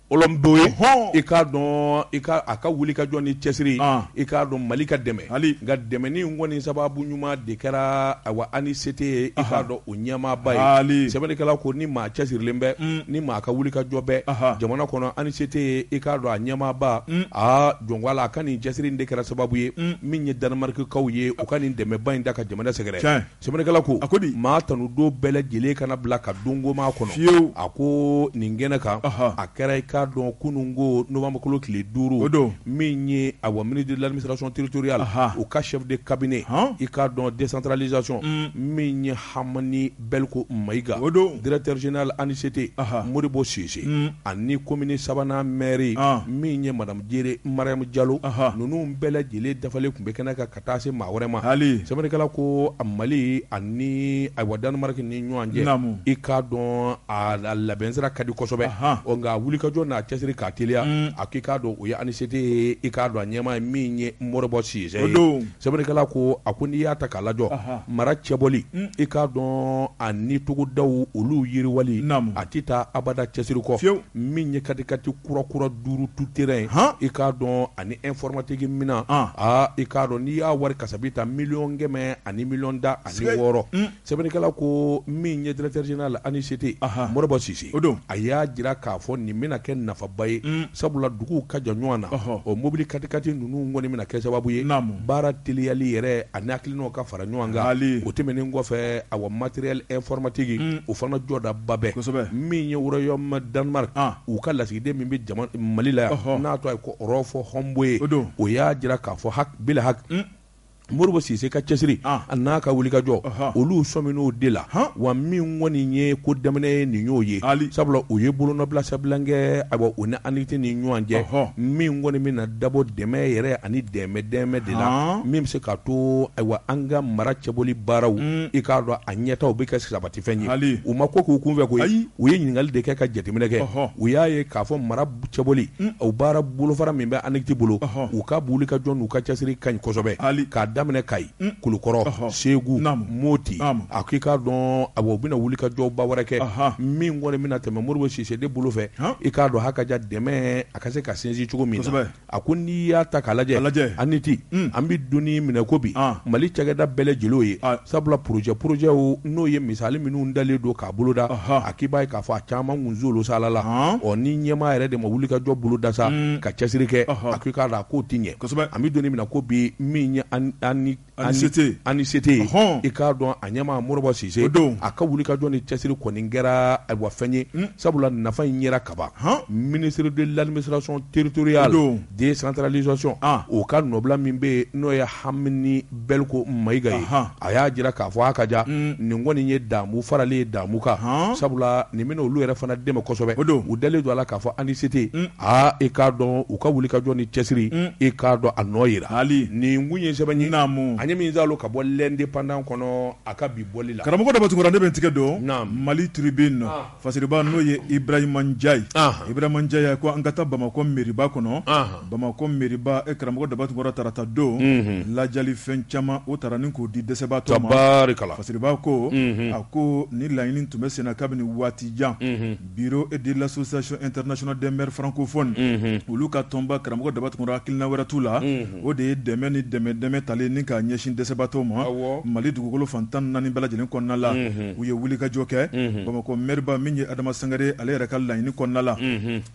Holmboe ye i k'a dɔn i a ka wuli ka jɔ ni cɛsiri i k'a dɔn mali ka dɛmɛ hali nka dɛmɛni kɔni sababu ɲuman de kɛra awa ANICT ye i k'a dɔn o ɲɛmaaba ye sɛbɛnnikɛla ko ni maa cɛsirilen bɛ ni maa ka wuli ka jɔ bɛ jamana kɔnɔ ANICT ye i k'a dɔn a ɲɛmaaba aa jɔn a la a ka nin cɛsiri de kɛra sababu ye min ye Danemarkikaw ye u ka nin dɛmɛba in da ka jamana sɛgɛrɛ Sɛbɛnnikɛla ko a ko di maa tanu don bɛɛ lajɛlen kana bila ka donko makɔnɔ fiyewu a ko nin kɛnɛ kan a kɛra i k'a dɔn kunun ko nowanburukalo tile duuru o don min ye awa ministre de l'administration territoriale u ka chef de cabinet i k'a dɔn décentralisation min ye Hamani Bɛliko Mayiga o don directeur général ANICT Modibo Sise ani komini sabanan mɛri min ye madamu Jire Mariyamu Jalo ninnu bɛɛ lajɛlen dafalen tun bɛ kɛnɛ kan taa se maa wɛrɛ ma hali sɛbɛnnikɛla ko a Mali ani awa Danemark ni ɲɔgɔn cɛ i k'a dɔn a labɛn sira ka di kosɛbɛ nka wulikajɔ n'a cɛsiri k'a teliya a k'i k'a dɔn o ye ANICT ye i k'a dɔn a ɲɛmaa ye min ye Modibo Sise ye sɛbɛnnikɛla ko a ko n'i y'a ta k'a lajɔ mara cɛbɔli i k'a dɔn ani togodaw olu yiriwali a tɛ taa abada cɛsiri kɔ fiyewu min ye katikati kura kura duuru tout terrain i k'a dɔn ani informatique minɛn aa i k'a dɔn n'i y'a wari kasabi ta miliyɔn kɛmɛ ani miliyɔn tan ani wɔɔrɔ sɛbɛnnikɛla ko min ye directeur général ANICT Modibo Sise o don a y'a jira k'a fɔ nin bɛna kɛ nafaba ye sabula duguw ka jan ɲɔgɔn na o mobili kati kati ninnu kɔni bɛna kɛ sababu ye baara teliyali yɛrɛ ani hakilinaw ka fara ɲɔgɔn kan o tɛmɛnen kɔfɛ awa matériel informatique o fana jɔdaba bɛ min ye royaume Danemark u ka lasigiden min bɛ mali la yan n'a tɔ Rolf Holmboe ye o y'a jira k'a fɔ ha ha Modibo Sise ka cɛsiri an'a ka wulikajɔ olu sɔmin'o de la wa min kɔni ye ko daminɛ ye nin y'o ye sabula u ye bolonɔbila sɛbɛn na kɛ a u ni ANICT ni ɲɔgɔn cɛ min kɔni bɛna dabɔ dɛmɛ yɛrɛ ani dɛmɛ dɛmɛ de la min bɛ se k'a to ayiwa an ka mara cɛbɔli baaraw i k'a dɔn a ɲɛtaa bɛ kɛ sabatifɛn ye u ma ko k'u kunfɛ koyi u ye ɲininkali de kɛ ka jateminɛ kɛ u y'a ye k'a fɔ mara cɛbɔli o baara bolofara min bɛ ANICT bolo u ka wulikajɔ n'u ka cɛsiri ka ɲi kosɛbɛ hali k'a daminɛ kayi kulukɔrɔ segu moti a k'i k'a dɔn a u bɛna wulikajɔba wɛrɛ kɛ min kɔni bɛna tɛmɛ Modibo Sise de bolo fɛ i k'a dɔn hakɛ ka ja dɛmɛ a ka se ka sinsin cogo min A ko n'i y'a ta k'a lajɛ ANICT an bɛ don min na i ko bi mali cakɛda bɛɛ lajɛlen ye sabula projet projetw n'o ye misali minnu dalen don k'a boloda a k'i b'a ye k'a fɔ a caman kunzolu sala ɔ ni ɲɛmaa yɛrɛ de ma wulikajɔ boloda sa ka cɛsiri kɛ a k'i k'a dɔn a k'o tɛ ɲɛ an bɛ don min na i ko bi min ANICT. ANICT. Ɔhɔn. I k'a dɔn a ɲɛmaa Modibo Sise. O don. A ka wulikajɔ ni cɛsiri kɔni kɛra ayiwa fɛn ye. Un. Sabula nafa in yera kaban. Han! Ministre de l'administration territoriale. O don. Décentralisation. An! O ka nɔbila min bɛ yen, n'o ye Hamini Bɛliko Mayiga ye. Ahan! A y'a jira k'a fɔ a ka diya. Un! Nin kɔni ye damu faralen ye damu kan. Han! Sabula nin bɛna olu yɛrɛ fana dɛmɛ kosɛbɛ. O don. U dalen don a la k'a fɔ ANICT. Un! Aa i k'a dɔn u ka wulikajɔ ni cɛsiri i k'a dɔn a nɔ yera hali nin kun ye sɛbɛn ye an ye min zan ka bɔ l'Indépendant kɔnɔ a ka bi bɔli la karamɔgɔ daba tunkara ne bɛ n tɛgɛ don mali Tribune fasiriba n'o ye Ibrahima Ndiaye ye Ibrahima Ndiaye ko an ka taa bamakɔ mairieba kɔnɔ bamakɔ mairieba e karamɔgɔ daba tunkara tarata don ladiyali fɛn caman o tara ni k'o di dɛsɛbaatɔw ma fasiriba ko a ko ni laɲini tun bɛ senna kabini waati jan Bureau de l'association internationale des maires francophones olu ka tɔnba karamɔgɔ daba tunkara hakilina wɛrɛ t'u la o de ye dɛmɛ ni dɛmɛ tali ni k'a ɲɛsin dɛsɛbaatɔw ma mali dugukolo fan tan naani bɛɛ lajɛlen kɔnɔna la u ye wulikajɔ kɛ bamakɔ maireba min ye adama sangare ale yɛrɛ ka laɲini kɔnɔna la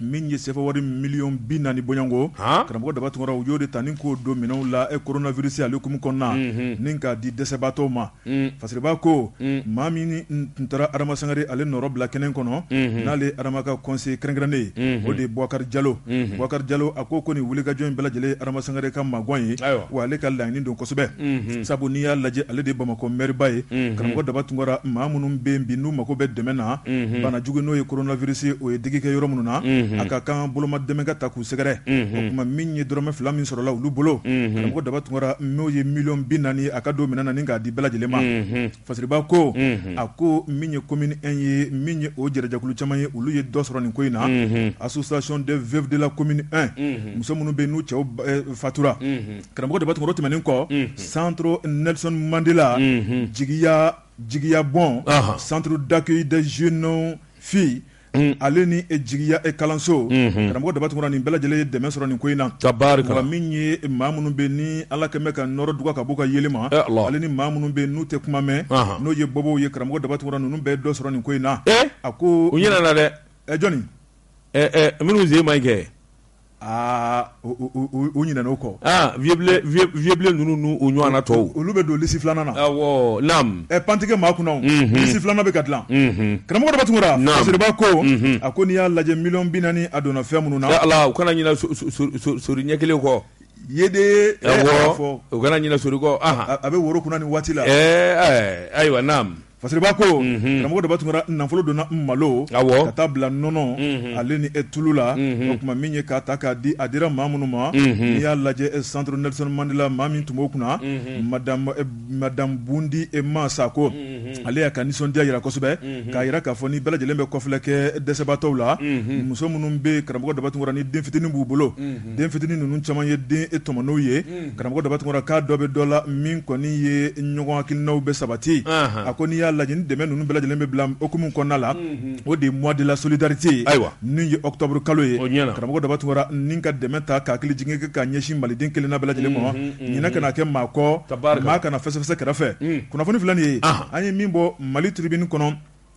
min ye sefawari miliyɔn bi naani bɔɲɔgɔnko karamɔgɔ daba tunkara u y'o de ta ni k'o don minɛnw la e coronavirus ale hukumu kɔnɔna ni k'a di dɛsɛbaatɔw ma Fasiriba ko maa min tun taara Adama Sangare ale nɔrɔ bila kɛnɛ kɔnɔ n'ale Adama ka conseil kɛrɛnkɛrɛnnen ye o de ye Bubakar Jalo Bubakar Jalo a ko ko nin wulikajɔ in bɛɛ lajɛlen Adama Sangare ka magan ye wa ale ka laɲini don kosɛbɛ sabu n'i y'a lajɛ ale de Bamakɔ mɛriba ye karamɔgɔ daba tunkara maa minnu bɛ yen bi n'u mago bɛ dɛmɛ na bana jugu n'o ye coronavirus ye o ye digi kɛ yɔrɔ minnu na a ka kan boloma dɛmɛ ka ta sɛgɛrɛ o tuma min ye dɔrɔmɛ fila min sɔrɔla olu bolo karamɔgɔ daba tunkara n'o ye miliyɔn bi naani ye a k'a don minɛn na ni k'a di bɛɛ lajɛlen ma Fasiriba ko a ko min ye commune un ye min ye o jɛrɛjɛkulu caman ye olu ye dɔ sɔrɔ nin ko in na association des veuves de la commune un muso minnu bɛ n'u cɛw fatura karamɔgɔ daba tunkara o tɛmɛnen kɔ centre Nelson Mandela jigiya jigiya bon centre d'accueil des jeunes filles Unhun, ale ni e jigiya e kalanso, unhun, karamɔgɔ Daba Tunkara nin bɛɛ lajɛlen ye dɛmɛ sɔrɔ nin ko in na, tabaarikala, wa min ye maa minnu bɛ yen ni Ala kɛlen bɛ ka nɔɔrɔ duga ka b'u ka yeelen ma, e Alahu, ale ni maa minnu bɛ yen n'u tɛ kuma mɛn, anhan, n'o ye bobow ye karamɔgɔ Daba Tunkara ninnu bɛɛ ye dɔ sɔrɔ nin ko in na, e a ko, u ɲinɛna dɛ, ɛ jɔni, ɛ ɛ minnu sen man ɲi kɛ, aa u ɲinɛna u kɔ, aa Vieux Blen ninnu n'u ɲɔgɔnna tɔw, olu bɛ don lisi filanan na, awɔ, naamu, ɛ pan tɛ kɛ maa kunna o, unhun, lisi filanan bɛ ka dilan, unhun, karamɔgɔ Daba Tunkara, naamu, Fasiriba ko, unhun, a ko n'i y'a lajɛ miliyɔn bi naani a donna fɛn minnu na, ɛ Ala u kana ɲinɛ so so so so sori ɲɛ kelen kɔ, yeedee, awɔ, u kana ɲinɛ sori kɔ, anhan, a bɛ woro kunna nin waati la, ɛɛ ayiwa naamu Fasiriba ko karamɔgɔ daba tunkara nafolo donna malo ka taa bila nɔnɔ ale ni e tulu la o tuma min ye k'a ta k'a di a dira maa minnu ma n'i y'a lajɛ centre Nelson Mandela maa min tun b'o kunna madame Bundi Emma Sako ale y'a ka nisɔndiya jira kosɛbɛ k'a jira k'a fɔ ni bɛɛ lajɛlen bɛ kɔfilɛ kɛ dɛsɛbaatɔw la muso minnu bɛ karamɔgɔ daba tunkara ni den fitinin b'u bolo den fitinin ninnu caman ye den e tɔmɔnenw ye karamɔgɔ daba tunkara k'a dɔ bɛ dɔ la min kɔni ye ɲɔgɔn hakilinaw bɛ sabati a ko n'i y'a lajɛ ni dɛmɛ ninnu bɛɛ lajɛlen bɛ bila hukumu kɔnɔna la o de ye mois de la solidarité ayiwa n'o ye octobre kalo ye karamɔgɔ daba tunkara ni ka dɛmɛ ta ka hakili jigin kɛ ka ɲɛsin maliden kelenna bɛɛ lajɛlen ma ɲinɛ kana kɛ maa kɔ maa kana fɛsɛfɛsɛ kɛrɛfɛ kunnafoni filɛ nin ye an ye min bɔ Mali Tribune kɔnɔ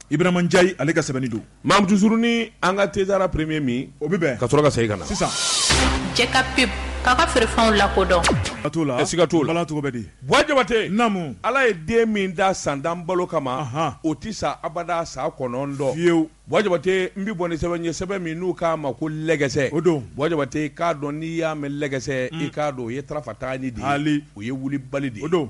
Ibrahima Njayi ale ka sɛbɛnni don mamuuruni an ka tɛdara premier min o bɛ ka sɔrɔ ka segin ka na sisan Jɛka pub k'a ka feerefɛnw lakodɔn ka t' la a siga t'o la cogo bɛ di Buwa Jabate namu ala ye den min da san tan balo kama o tɛ sa abada san kɔnɔntɔn fiyewu Buwa Jabate n bɛ bɔ ni sɛbɛn ye sɛbɛn min n'u k'a ma ko lɛgɛsɛ o don Buwa Jabate k'a dɔn n'i y'a mɛn lɛgɛsɛ i k'a dɔn o ye tarafa taani de o ye wulibali de o don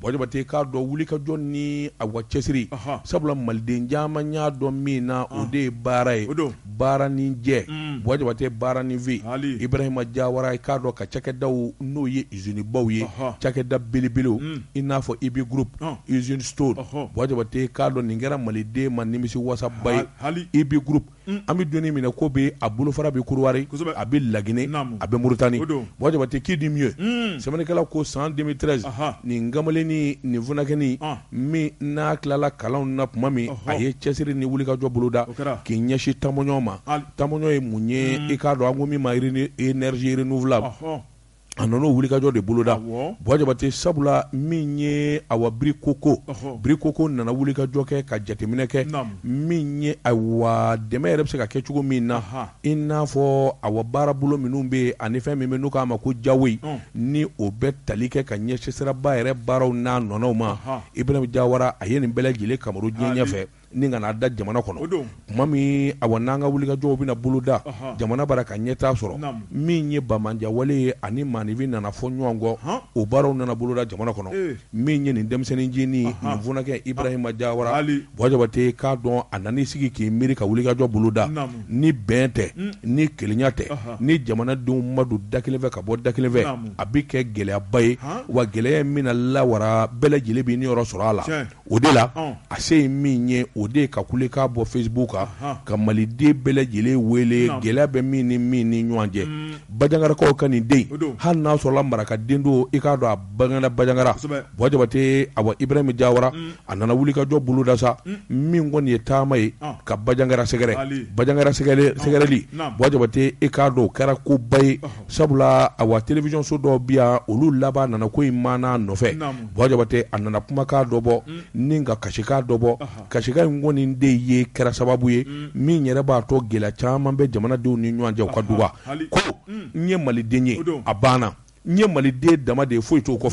Buwa Jabate k'a dɔn wulikajɔ ni awa cɛsiri sabula maliden caman y'a dɔn min na o de ye baara ye baara ni jɛ Buwa Jabate baara ni fin Ibrahima Jawara k'a dɔn ka cakɛdaw n'o ye izinibaw ye cakɛda belebelew i n'a fɔ IBI Group izini Stones Buwa Jabate k'a dɔn nin kɛra maliden ma nimisi wasaba ye IBI Group an bɛ don min n'i ko bi a bolofara bɛ Kɔdiwari a bɛ Laginɛ a bɛ Muritani Buwa Jabate qui dit mieux sɛbɛnnikɛla ko san deux mille treize nin kamalennin nin funankɛnin min n'a tilala kalan na tuma min a ye cɛsiri ni wulikajɔ boloda k'i ɲɛsin tamɔn ma tamɔn ye mun ye i k'a dɔn an ko min ma énergie renouvelable a nana o wulikajɔ de boloda Buwa Jabate sabula min ye awa Birikoko Birikoko nana wulikajɔ kɛ ka jateminɛ kɛ min ye awa dɛmɛ yɛrɛ bɛ se ka kɛ cogo min na i n'a fɔ awa baara bolo minnu bɛ yen ani fɛn min bɛ n'u k'a ma ko jawoyi ni o bɛ tali kɛ ka ɲɛsin siraba yɛrɛ baaraw n'a ɲɔgɔnnaw ma Ibrahima Jawara a ye nin bɛɛ lajɛlen kamaru diɲɛ ɲɛ fɛ ni ka na da jamana kɔnɔ tuma min awa n'an ka wulikajɔw bɛna boloda jamana bara ka ɲɛtaa sɔrɔ min ye bamajɛwale ye ani maafinfin nana fɔ ɲɔgɔn kɔ o baaraw nana boloda jamana kɔnɔ min ye nin denmisɛnnin ncinin nin funankɛ Ibrahima Jawara Buwa Jabate k'a dɔn a nan'i sigi k'i miiri ka wulikajɔ boloda ni bɛn tɛ ni kelenya tɛ ni jamanadenw ma don da kelen fɛ ka bɔ da kelen fɛ a bɛ kɛ gɛlɛyaba ye wa gɛlɛya min na lawara bɛɛ lajɛlen bɛ niyɔrɔ sɔrɔ a la o de la a se ye min ye o de ye ka kule k'a bɔ Facebook kan ka maliden bɛɛ lajɛlen wele gɛlɛya bɛ min ni min ni ɲɔgɔn cɛ Bajangarakaw ka nin den hali n'a sɔrɔla maraka den don i k'a dɔn a bangera Bajangara Buwa Jabate awa Ibrahima Jawara a nana wulikajɔ boloda sa min kɔni ye taama ye ka Bajangara sɛgɛrɛ Bajangara sɛgɛrɛli Buwa Jabate i k'a dɔn o kɛra koba ye sabula awa télévision so dɔw bi yan olu laban nana ko in maana nɔfɛ Buwa Jabate a nana kumakan dɔ bɔ ni ka kasikan dɔ bɔ kasikan in kɔni de ye kɛra sababu ye min yɛrɛ b'a to gɛlɛya caman bɛ jamanadenw ni ɲɔgɔn cɛ o ka duba ko n ye maliden ye a banna n ye maliden dama de ye foyi t'o kɔ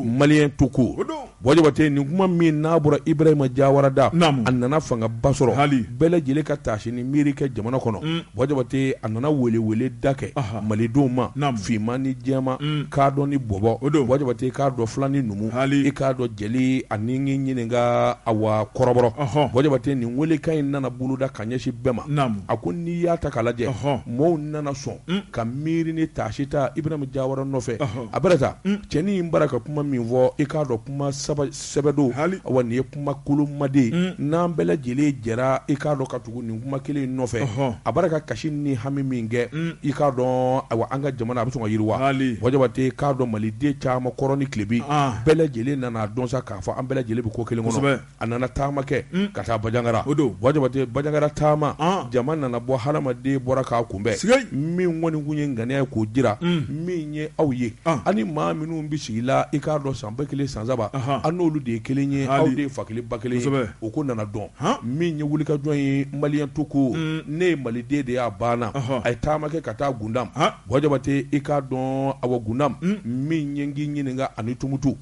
Maliens tout court Buwa Jabate nin kuma min n'a bɔra Ibrahima Jawara da a nana fangaba sɔrɔ bɛɛ lajɛlen ka taasi ni miiri kɛ jamana kɔnɔ Buwa Jabate a nana welewele da kɛ malidenw ma finman ni jɛman kadɔ ni bɔbɔ Buwa Jabate k'a dɔn fila ni numu i k'a dɔn jeli ani miniyanka awa kɔrɔbɔrɔ Buwa Jabate nin welekan in nana boloda ka ɲɛsin bɛɛ ma a ko n'i y'a ta k'a lajɛ maaw nana sɔn ka miiri ni taasi ta Ibrahima Jawara nɔfɛ a bɛrɛ ta cɛnin in bara ka kuma min fɔ i k'a dɔn kuma sɛbɛ don awa nin ye kuma koloma de n'an bɛɛ lajɛlen jɛra i k'a dɔn ka tugu nin kuma kelen in nɔfɛ a bara ka kasi ni hami min kɛ i k'a dɔn awa an ka jamana a bɛ sɔn ka yiriwa bɔn Jabate k'a dɔn maliden caman kɔrɔn ni tilebin bɛɛ lajɛlen nan'a dɔn sa k'a fɔ an bɛɛ lajɛlen bɛ ko kelen kɔnɔ a nana taama kɛ ka taa Bajangara bɔn Jabate Bajangara taama jama nana bɔ hadamaden bɔra k'a kunbɛn min kɔni kun ye ŋaniya ye k'o jira min ye aw ye ani maa minnu bɛ sigi la i k'a dɔn san ba kelen san saba an n'olu de ye kelen ye aw de ye fa kelen ba kelen ye o ko nana dɔn min ye wulikajɔ ye Maliens tout court ne ye maliden de y'a banna a ye taama kɛ ka taa Gundam bɔn Jabate i k'a dɔn awa Gundam min ye k'i ɲininka ani tumutu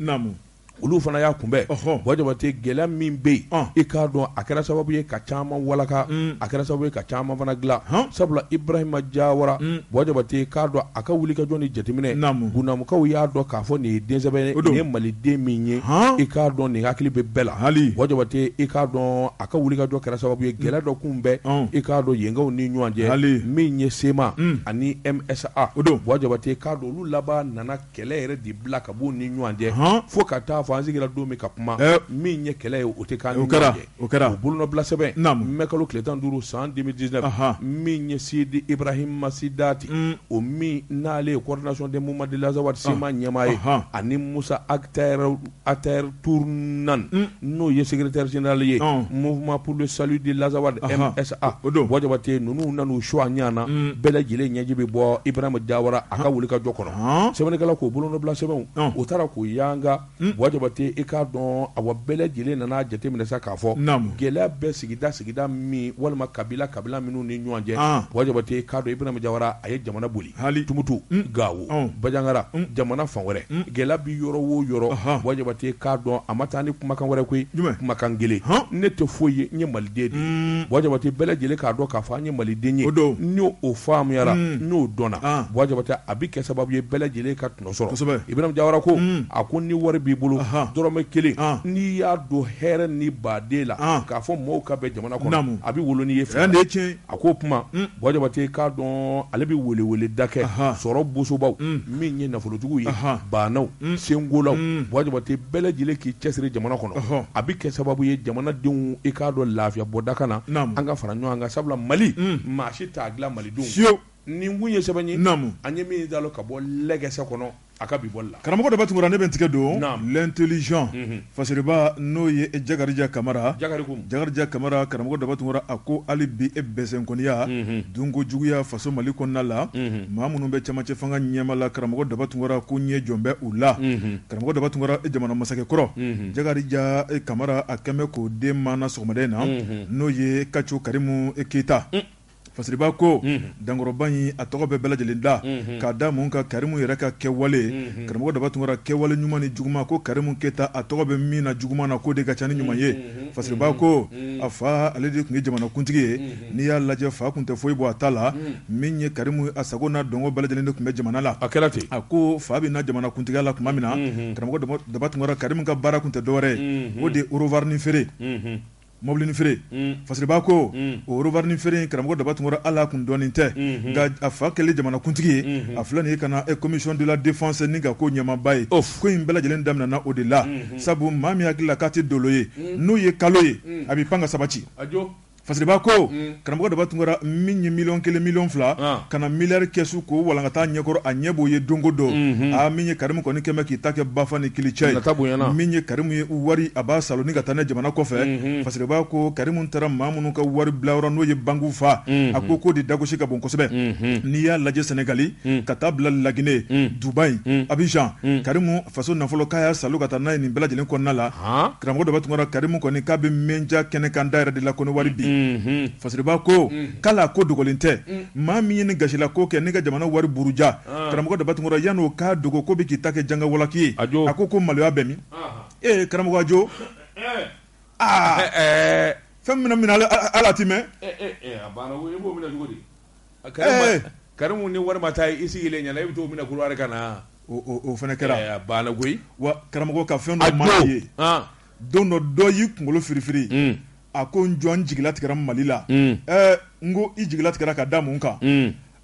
olu fana y'a kunbɛn bɔn Jabate gɛlɛya min bɛ yen i k'a dɔn a kɛra sababu ye ka caman walaka a kɛra sababu ye ka caman fana dilan sabula Ibrahima Jawara bɔn Jabate k'a dɔn a ka wulikajɔ ni jateminɛ Gundamukaw y'a dɔn k'a fɔ nin ye den sɛbɛ ye nin ye maliden min ye i k'a dɔn nin hakili bɛ bɛɛ la bɔn Jabate i k'a dɔn a ka wulikajɔ kɛra sababu ye gɛlɛya dɔ kunbɛn i k'a dɔn yenkaw ni ɲɔgɔn cɛ min ye CMA ani MSA bɔn Jabate k'a don olu laban nana Kɛlɛ yɛrɛ dabila ka b'u ni ɲɔgɔn cɛ, fo ka taa fɔ an sigira don min ka kuma, min ye kɛlɛ ye o tɛ k'an ni ɲɔgɔn cɛ, o bolonɔbila sɛbɛn, mai kalo tile tan ni duuru san 2019, min ye Sidi Ibrahima Sidati, o min n'ale ye coordination des mouvements de l'Azawad, CMA, ɲɛmaa ye, ani Musa Ag Achara Acharatoumane n'o ye secrétaire général ye mouvement pour le salut de l'Azawad MSA bɔn Jabate ninnu nan'u su a ɲɛna bɛɛ lajɛlen ɲɛji bɛ bɔ Ibrahima Jawara a ka wulikajɔ kɔnɔ sɛbɛnnikɛla k'o bolonɔbila sɛbɛnw u taara k'u yanga bɔn Jabate i k'a dɔn awa bɛɛ lajɛlen nana jateminɛ sa k'a fɔ gɛlɛya bɛ sigida sigida min walima kabila kabila minnu ni ɲɔgɔn cɛ bɔn Jabate k'a dɔn Ibrahima Jawara a ye jamana boli Tumutu Gawo Bajangara jamana fan wɛrɛ gɛlɛya bɛ yɔrɔ wo yɔrɔ bɔn Jabate k'a dɔn a ma taa ni kumakan wɛrɛ koyi kumakan kelen ne tɛ foyi ye n ye maliden de ye bɔn Jabate bɛɛ lajɛlen k'a dɔn k'a fɔ an ye maliden ye n'o faamuyara n'o dɔnna bɔn Jabate a bɛ kɛ sababu ye bɛɛ lajɛlen ka tɔnɔ sɔrɔ Ibrahima Jawara ko a ko ni wari b'i bolo dɔrɔmɛ kelen n'i y'a don hɛrɛ ni baden la k'a fɔ mɔgɔw ka bɛn jamana kɔnɔ a bɛ wolo n'i ye fɛn A ko o tuma bɔn Jabate k'a dɔn ale bɛ weleweleda kɛ sɔrɔ bosobaw min ye nafolotigiw ye baanaw senkolaw bɔn Jabate bɛɛ lajɛlen k'i cɛsiri jamana kɔnɔ a bɛ kɛ sababu ye jamanadenw i k'a dɔn lafiya bɔda ka na an ka fara ɲɔgɔn kan sabula mali maa si t'a dilan malidenw nin kun ye sɛbɛn ye an ye min dalo ka bɔ legɛsɛ kɔnɔ A ka bi bɔli la. Karamɔgɔ Daba Tunkara ne bɛ n tigɛ don l'intelligent fasiriba n'o ye Jakarija Kamara, Jakarija Kamara, karamɔgɔ Daba Tunkara a ko hali bi e bɛsɛnkɔniya, dunko juguya faso Mali kɔnɔna la, maa minnu bɛ cɛmancɛ fanga ɲɛma la karamɔgɔ Daba Tunkara ko ɲɛ jɔn bɛ u la? Karamɔgɔ Daba Tunkara jamana masakɛ kɔrɔ Jakarija Kamara a kɛn bɛ k'o den maana sɔgɔmada in na n'o ye Kaco Karimu Keyita. Fasiriba ko dankɔrɔba in a tɔgɔ bɛ bɛɛ lajɛlen da k'a da mun kan karimu yɛrɛ ka kɛwale karamɔgɔ daba tunkara kɛwale ɲuman ni juguman ko karimu keyita a tɔgɔ bɛ min na juguman na k'o de ka ca ni ɲuman ye fasiriba ko a fa ale de tun ye jamanakuntigi ye n'i y'a lajɛ fa tun tɛ foyi bɔ a ta la min ye karimu a sago n'a dungo bɛɛ lajɛlen de tun bɛ jamana la a kɛra ten a ko fa bɛ na jamanakuntigiya la tuma min na karamɔgɔ daba tunkara karimu ka baara tun tɛ dɔwɛrɛ ye o de ye orovarini feere Mɔbilinin feere fasiriba ko orovarini feere karamɔgɔ daba tunkara ale tun dɔnnen tɛ nka a fa kɛlen jamanakuntigi ye a filɛ nin ye ka na commission de la défense ni ka ko ɲɛmaaba ye ko in bɛɛ lajɛlen daminɛna o de la sabu maa min hakili la k'a tɛ dolo ye n'o ye kalo ye a bɛ pan ka sabati fasiriba ko Karamɔgɔ daba tunkara min ye miliyɔn kelen miliyɔn fila ka na miliyari kɛsu ko walankata ɲɛkɔrɔ a ɲɛ b'o ye donko don min ye karimu kɔni kɛmɛ k'i ta kɛ bafa ni kili ye ka bon min ye karimu ye wari a b'a saalo ni ka taa ne jamana kɔfɛ fasiriba ko karimu taara maa minnu ka wari bilayɔrɔ n'o ye banki fa a ko k'o de dagosi ka bon kosɛbɛ n'i y'a lajɛ sɛnɛgali ka taa bila laginɛ dubayi abijan karimu faso nafolo k'a y'a saalo ka taa n'a ye nin bɛɛ lajɛlen kɔnɔna la karamɔgɔ daba tunkara karimu kɔni k'a bɛ média kɛnɛ kan da yɛrɛ de la ko ni wari bi fasiriba ko k'ale ko dogolen tɛ maa min ye nin gasila ko kɛ ne ka jamana wari buruja karamɔgɔ daba tunkara yan'o k'a dogo ko bɛ k'i ta kɛ jangawalaki ye a ko ko maloya bɛ min ee karamɔgɔ ajo aa fɛn minɛ ala tɛmɛ karimu ni wari ma taa i sigilen ɲɛna i bɛ t'o minɛ kuluba ka na o fana kɛra baara koyi wa karamɔgɔ ka fɛn dɔ maa ye don dɔ dɔ y'i kunkolo firifiri a ko n jɔ n jigila tigɛra mali la n ko i jigila tigɛra ka da mun kan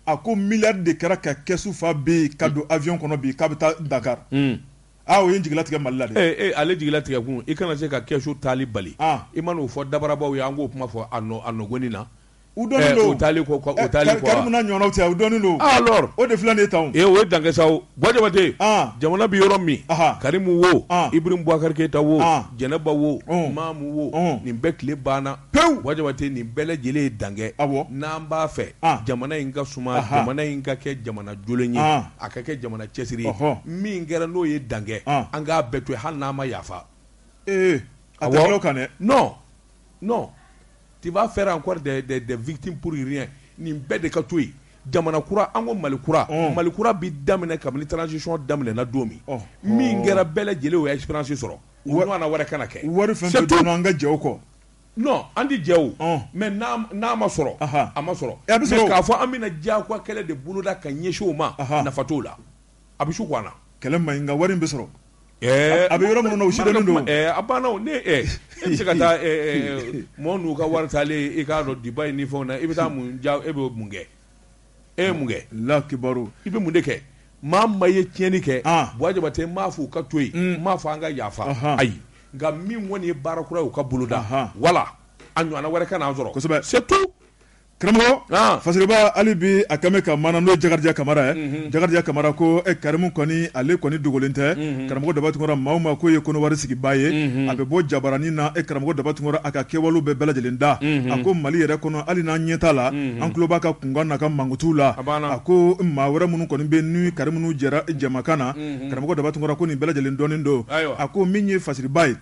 a ko miliyari de kɛra ka kɛsu fa bi ka don avion kɔnɔ bi k'a bɛ taa dakar o ye jigila tigɛ mali la ale jigila tigɛkun i kana se ka kɛsu taali bali i man'o fɔ dabarabaw ye an k'o kuma fɔ ɲɔgɔn ɲɛna u dɔnnen eh, don u taalen kɔ u eh, taalen kɔ karimu n'a ɲɔgɔnnaw cɛ u dɔnnen don ah, alors o de filɛ nin ye tan ee o ye dankɛ sa o bɔ jabate ah. jamana bɛ yɔrɔ min karimu wo ah. ibrahim bubakari keyita wo jɛnɛba wo oh. maamu wo oh. nin bɛɛ tile banna pewu bɔ jabate nin bɛɛ lajɛlen ye dankɛ awɔ n'an b'a fɛ jamana in ka suma jamana in ka kɛ jamana jolen ye a ka kɛ jamana cɛsiri ye min kɛra n'o ye dankɛ an k'a bɛɛ to yen hali n'an ma yafa ee a tɛ kɛ o kan dɛ non non tu vas faire encore des des des victimes pour rien nin bɛɛ de ka to yen, jamana kura an ko Mali kura, ɔn, Mali kura bɛ daminɛ kabini transition daminɛna don min, ɔhɔ, min kɛra bɛɛ lajɛlen y'o expérience sɔrɔ, o ɲɔgɔnna wɛrɛ kana kɛ, wari fɛn fɛn bɛ yen an ka jɛ o kɔ, non an tɛ jɛ o, ɔn, mais n'a ma sɔrɔ, ɔnhɔn, a ma sɔrɔ, a bɛ sɔrɔ o, mais k'a fɔ an bɛna diyagoya kɛlɛ de boloda ka ɲɛsin o ma, ɔnhɔn, nafa t'o la. a bɛ su ko an na kɛlɛ man ɲi nka wari bɛ sɔrɔ a bɛ yɔrɔ min o don a banna se ka taa mɔgɔ ninnu ka wari taalen i k'a dɔn Dubaï ni fɛnw na i bɛ taa mun ja e bɛ mun kɛ e ye mun kɛ lakibaru i bɛ mun de kɛ maa o maa ye tiɲɛni kɛ bɔjabate n m'a fɔ u ka to yen n m'a fɔ an ka yafa ayi nka min kɔni ye baara kura ye o ka boloda wala a ɲɔgɔnna wɛrɛ kana an sɔrɔ kosɛbɛ c'est tout karamɔgɔ fasiriba hali bi a kɛlen bɛ kamara n'o ye jakarija kamara ye jakarija kamara ko karimu kɔni ale kɔni dogolen tɛ karamɔgɔ daba tunkara maa o maa k'o ye kɔnɔwari sigibaa ye a bɛ bɔ jabaranin na e karamɔgɔ daba tunkara a ka kɛwale bɛɛ bɛɛ lajɛlen da a ko mali yɛrɛ kɔnɔ hali n'an ɲɛ t'a la an tulo b'a ka kunkan n'a ka mankutu la a ko maa wɛrɛ minnu kɔni bɛ ni karimu ninnu jɛra jama na karamɔgɔ daba tunkara ko nin bɛɛ lajɛlen dɔnnen don a ko min ye fasiriba ye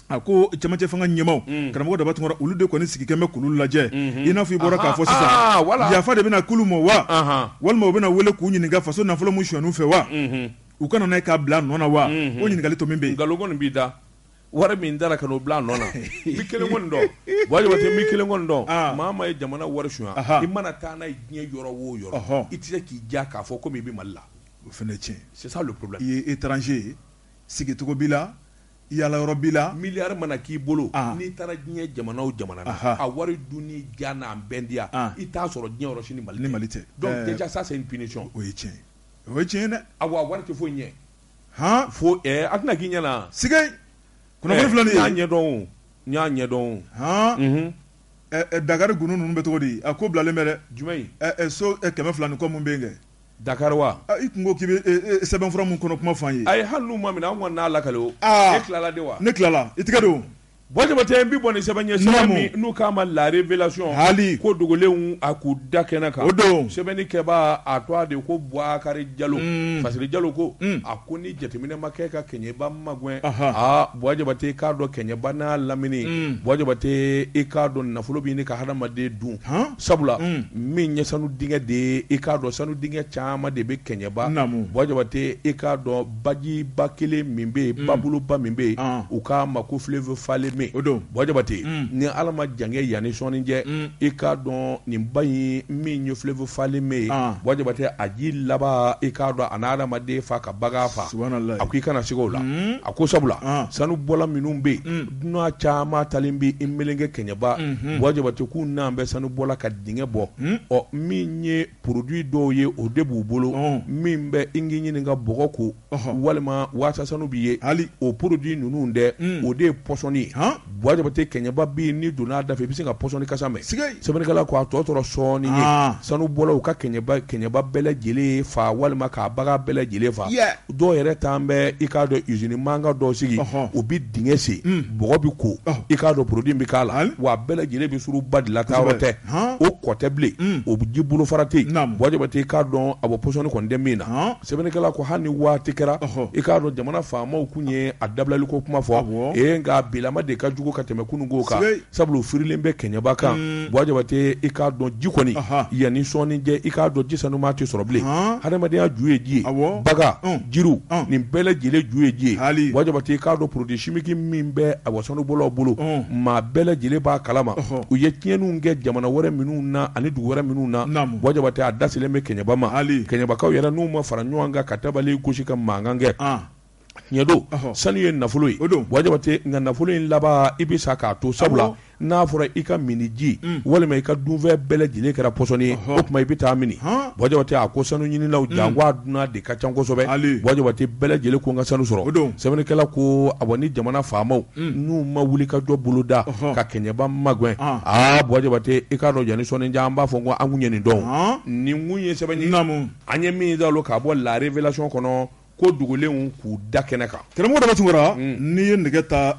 a ko camancɛ fanga ɲɛmaaw unhun karamɔgɔ Daba Tunkara olu de kɔni sigikɛn bɛ k'olu lajɛ unhun i n'a fɔ i bɔra k'a fɔ sisan ahaa aa voilà yafa de bɛna k'olu ma wa anhan walima u bɛna wele k'u ɲininka faso nafolo min sonyana u fɛ wa unhun u ka na n'a ye k'a bil'a nɔ na wa unhun o ɲininkali tomin bɛ yen nkalon kɔni b'i da wari min dara ka n'o bil'a nɔ na n bɛ 1 kɔni dɔn Bɔjabate n bɛ 1 kɔni dɔn aa maa o maa ye jamana wari sonya anhan i mana taa n'a ye diɲɛ yɔrɔ o yɔrɔ ɔhɔ i tɛ se k'i diya k'a fɔ comme i bɛ Mali la o fana ye tiɲɛ ye c'est ça le problème i ye étranger ye sigicogo b'i la Yala yɔrɔ b'i la? Miliyari mana k'i bolo, n'i taara diɲɛ jamana o jamana na, a wari dunni diya n'a bɛndiya, i t'a sɔrɔ diɲɛ yɔrɔ si ni Mali tɛ. Ni Mali tɛ. Donc dejà ça c'est une punition o ye tiɲɛ ye, o ye tiɲɛ ye dɛ. Awa wari tɛ foyi ɲɛ. Han! Fo ɛɛ a tɛna k'i ɲɛ na. Sigeyi! Kunnafoni filɛ nin ye. N y'a ɲɛdɔn o, n y'a ɲɛdɔn o. Han! Unhun. Ɛ ɛ Dakari gundo ninnu bɛ cogo di? A ko bilalen bɛ dɛ. Jumɛn in? Ɛ ɛ so 200 ni kɔ minnu bɛ yen kɛ. Dakari wa i tun ko k'i bɛ sɛbɛnfura min kɔnɔ kuma fɔ an ye ayi hali n'u ma minɛ an kɔni n'a lakale e tilala de wa ne tilala i tɛgɛ don bɔjabate n bɛ bɔ ni sɛbɛn ye n'u k'a ma la révélation hali ko dogolenw a k'u da kɛnɛ kan o don sɛbɛnni kɛbaa a tɔgɔ de ko bukari jalo parce jalo ko a ko ni jateminɛ ma kɛ ka kɛɲɛba magɛn aa bɔjabate i k'a dɔn kɛɲɛba n'a lamini bɔjabate i k'a dɔn nafolo bɛ ɲini ka hadamaden dun Sabula min ye sanu dingɛ de ye i k'a dɔn sanu dingɛ caman de bɛ kɛɲɛba bɔjabate i k'a dɔn bajiba kelen min bɛ yen baboloba min bɛ yen u k'a ma ko fleuve falémé o don bɔjabate ni ala ma jan yanni sɔɔni cɛ i k'a dɔn nin ba in min ye fleuve falémé ye bɔjabate a ji laban e k'a dɔn a na adamaden faa ka bagan faa a ko i kana siga o la a ko sabula sanu bɔla minnu bɛ yen dunan caman taalen bɛ i meleke kɛɲɛba buwa jabate k'u n'an bɛ sanu bɔ la ka dingɛ bɔ ɔ min ye produit dɔw ye o de b'u bolo min bɛ n ɲini ka bɔgɔ ko walima waasa sanu bɛ ye hali o produit ninnu dɛ o de ye pɔsɔni ye buwa jabate kɛɲɛba bi n'i donna da fɛ i bɛ se ka pɔsɔni kasa mɛn sɛbɛnnikɛla ko a tɔ tora sɔɔni ye sanubɔlaw ka kɛɲɛba bɛɛ lajɛlen faa walima ka bagan bɛɛ lajɛlen faa dɔw yɛrɛ taalen bɛ i k'a dɔn usine mankan dɔw sigi u bɛ dingɛ sen hmm. bɔgɔ bɛ ko i k'a dɔn produit bɛ k'a la wa a bɛɛ lajɛlen bɛ suuru ba de la taa yɔrɔ tɛ o kɔ tɛ bilen hmm. o ji bolofara tɛ yen buwa jabate i k'a dɔn a bɔ pɔsɔni kɔni tɛ min na sɛbɛnnikɛla ko hali ni waati kɛra i k'a dɔn jamana faamaw kun ye a dabilaliko kuma fɔ ee nka bilama de ka jugu ka tɛmɛ kununko kan Sabula firilen bɛ kɛɲɛba kan buwa jabate i k'a dɔn ji kɔni yanni sɔɔni cɛ i k'a dɔn ji sanuman tɛ sɔrɔ bilen hadamadenya ju ye ji ye bagan jiriw nin bɛɛ lajɛlen ju ye ji ye buwa jabate i k'a dɔn produit chimique min bɛ awa sanubɔlaw bolo maa bɛɛ lajɛlen b'a kalama u ye tiɲɛniw kɛ jamana wɛrɛ minnu na ani dugu wɛrɛ minnu na buwa jabate a da selen bɛ kɛɲɛba ma kɛɲɛbakaw yɛrɛ n'u ma fara ɲɔgɔn kan ka tabali gosi ka mankan kɛ ɲɛ don sanu ye nafolo ye buwa jabate nka nafolo in laban i bɛ sa k'a to sabula n'a fɔra i ka minniji walima i ka dunfɛn bɛɛ lajɛlen kɛra pɔsɔni ye o tuma i bɛ taa mini buwa jabate a ko sanu ɲininaw jango dunan de ka ca kosɛbɛ buwa jabate bɛɛ lajɛlen ko n ka sanu sɔrɔ o don sɛbɛnnikɛla ko awɔ ni jamana faamaw n'u ma wuli ka jɔ bolo da ka kɛɲɛba magɛn aa buwa jabate i k'a dɔn yanni sɔɔni cɛ an b'a fɔ ko an kun ye nin dɔn nin kun ye sɛbɛn ye an ye min k'a bɔ la révélation kɔnɔ ko dogolenw k'u da kɛnɛ kan karamɔgɔ daba tunkara n'i ye nɛgɛ ta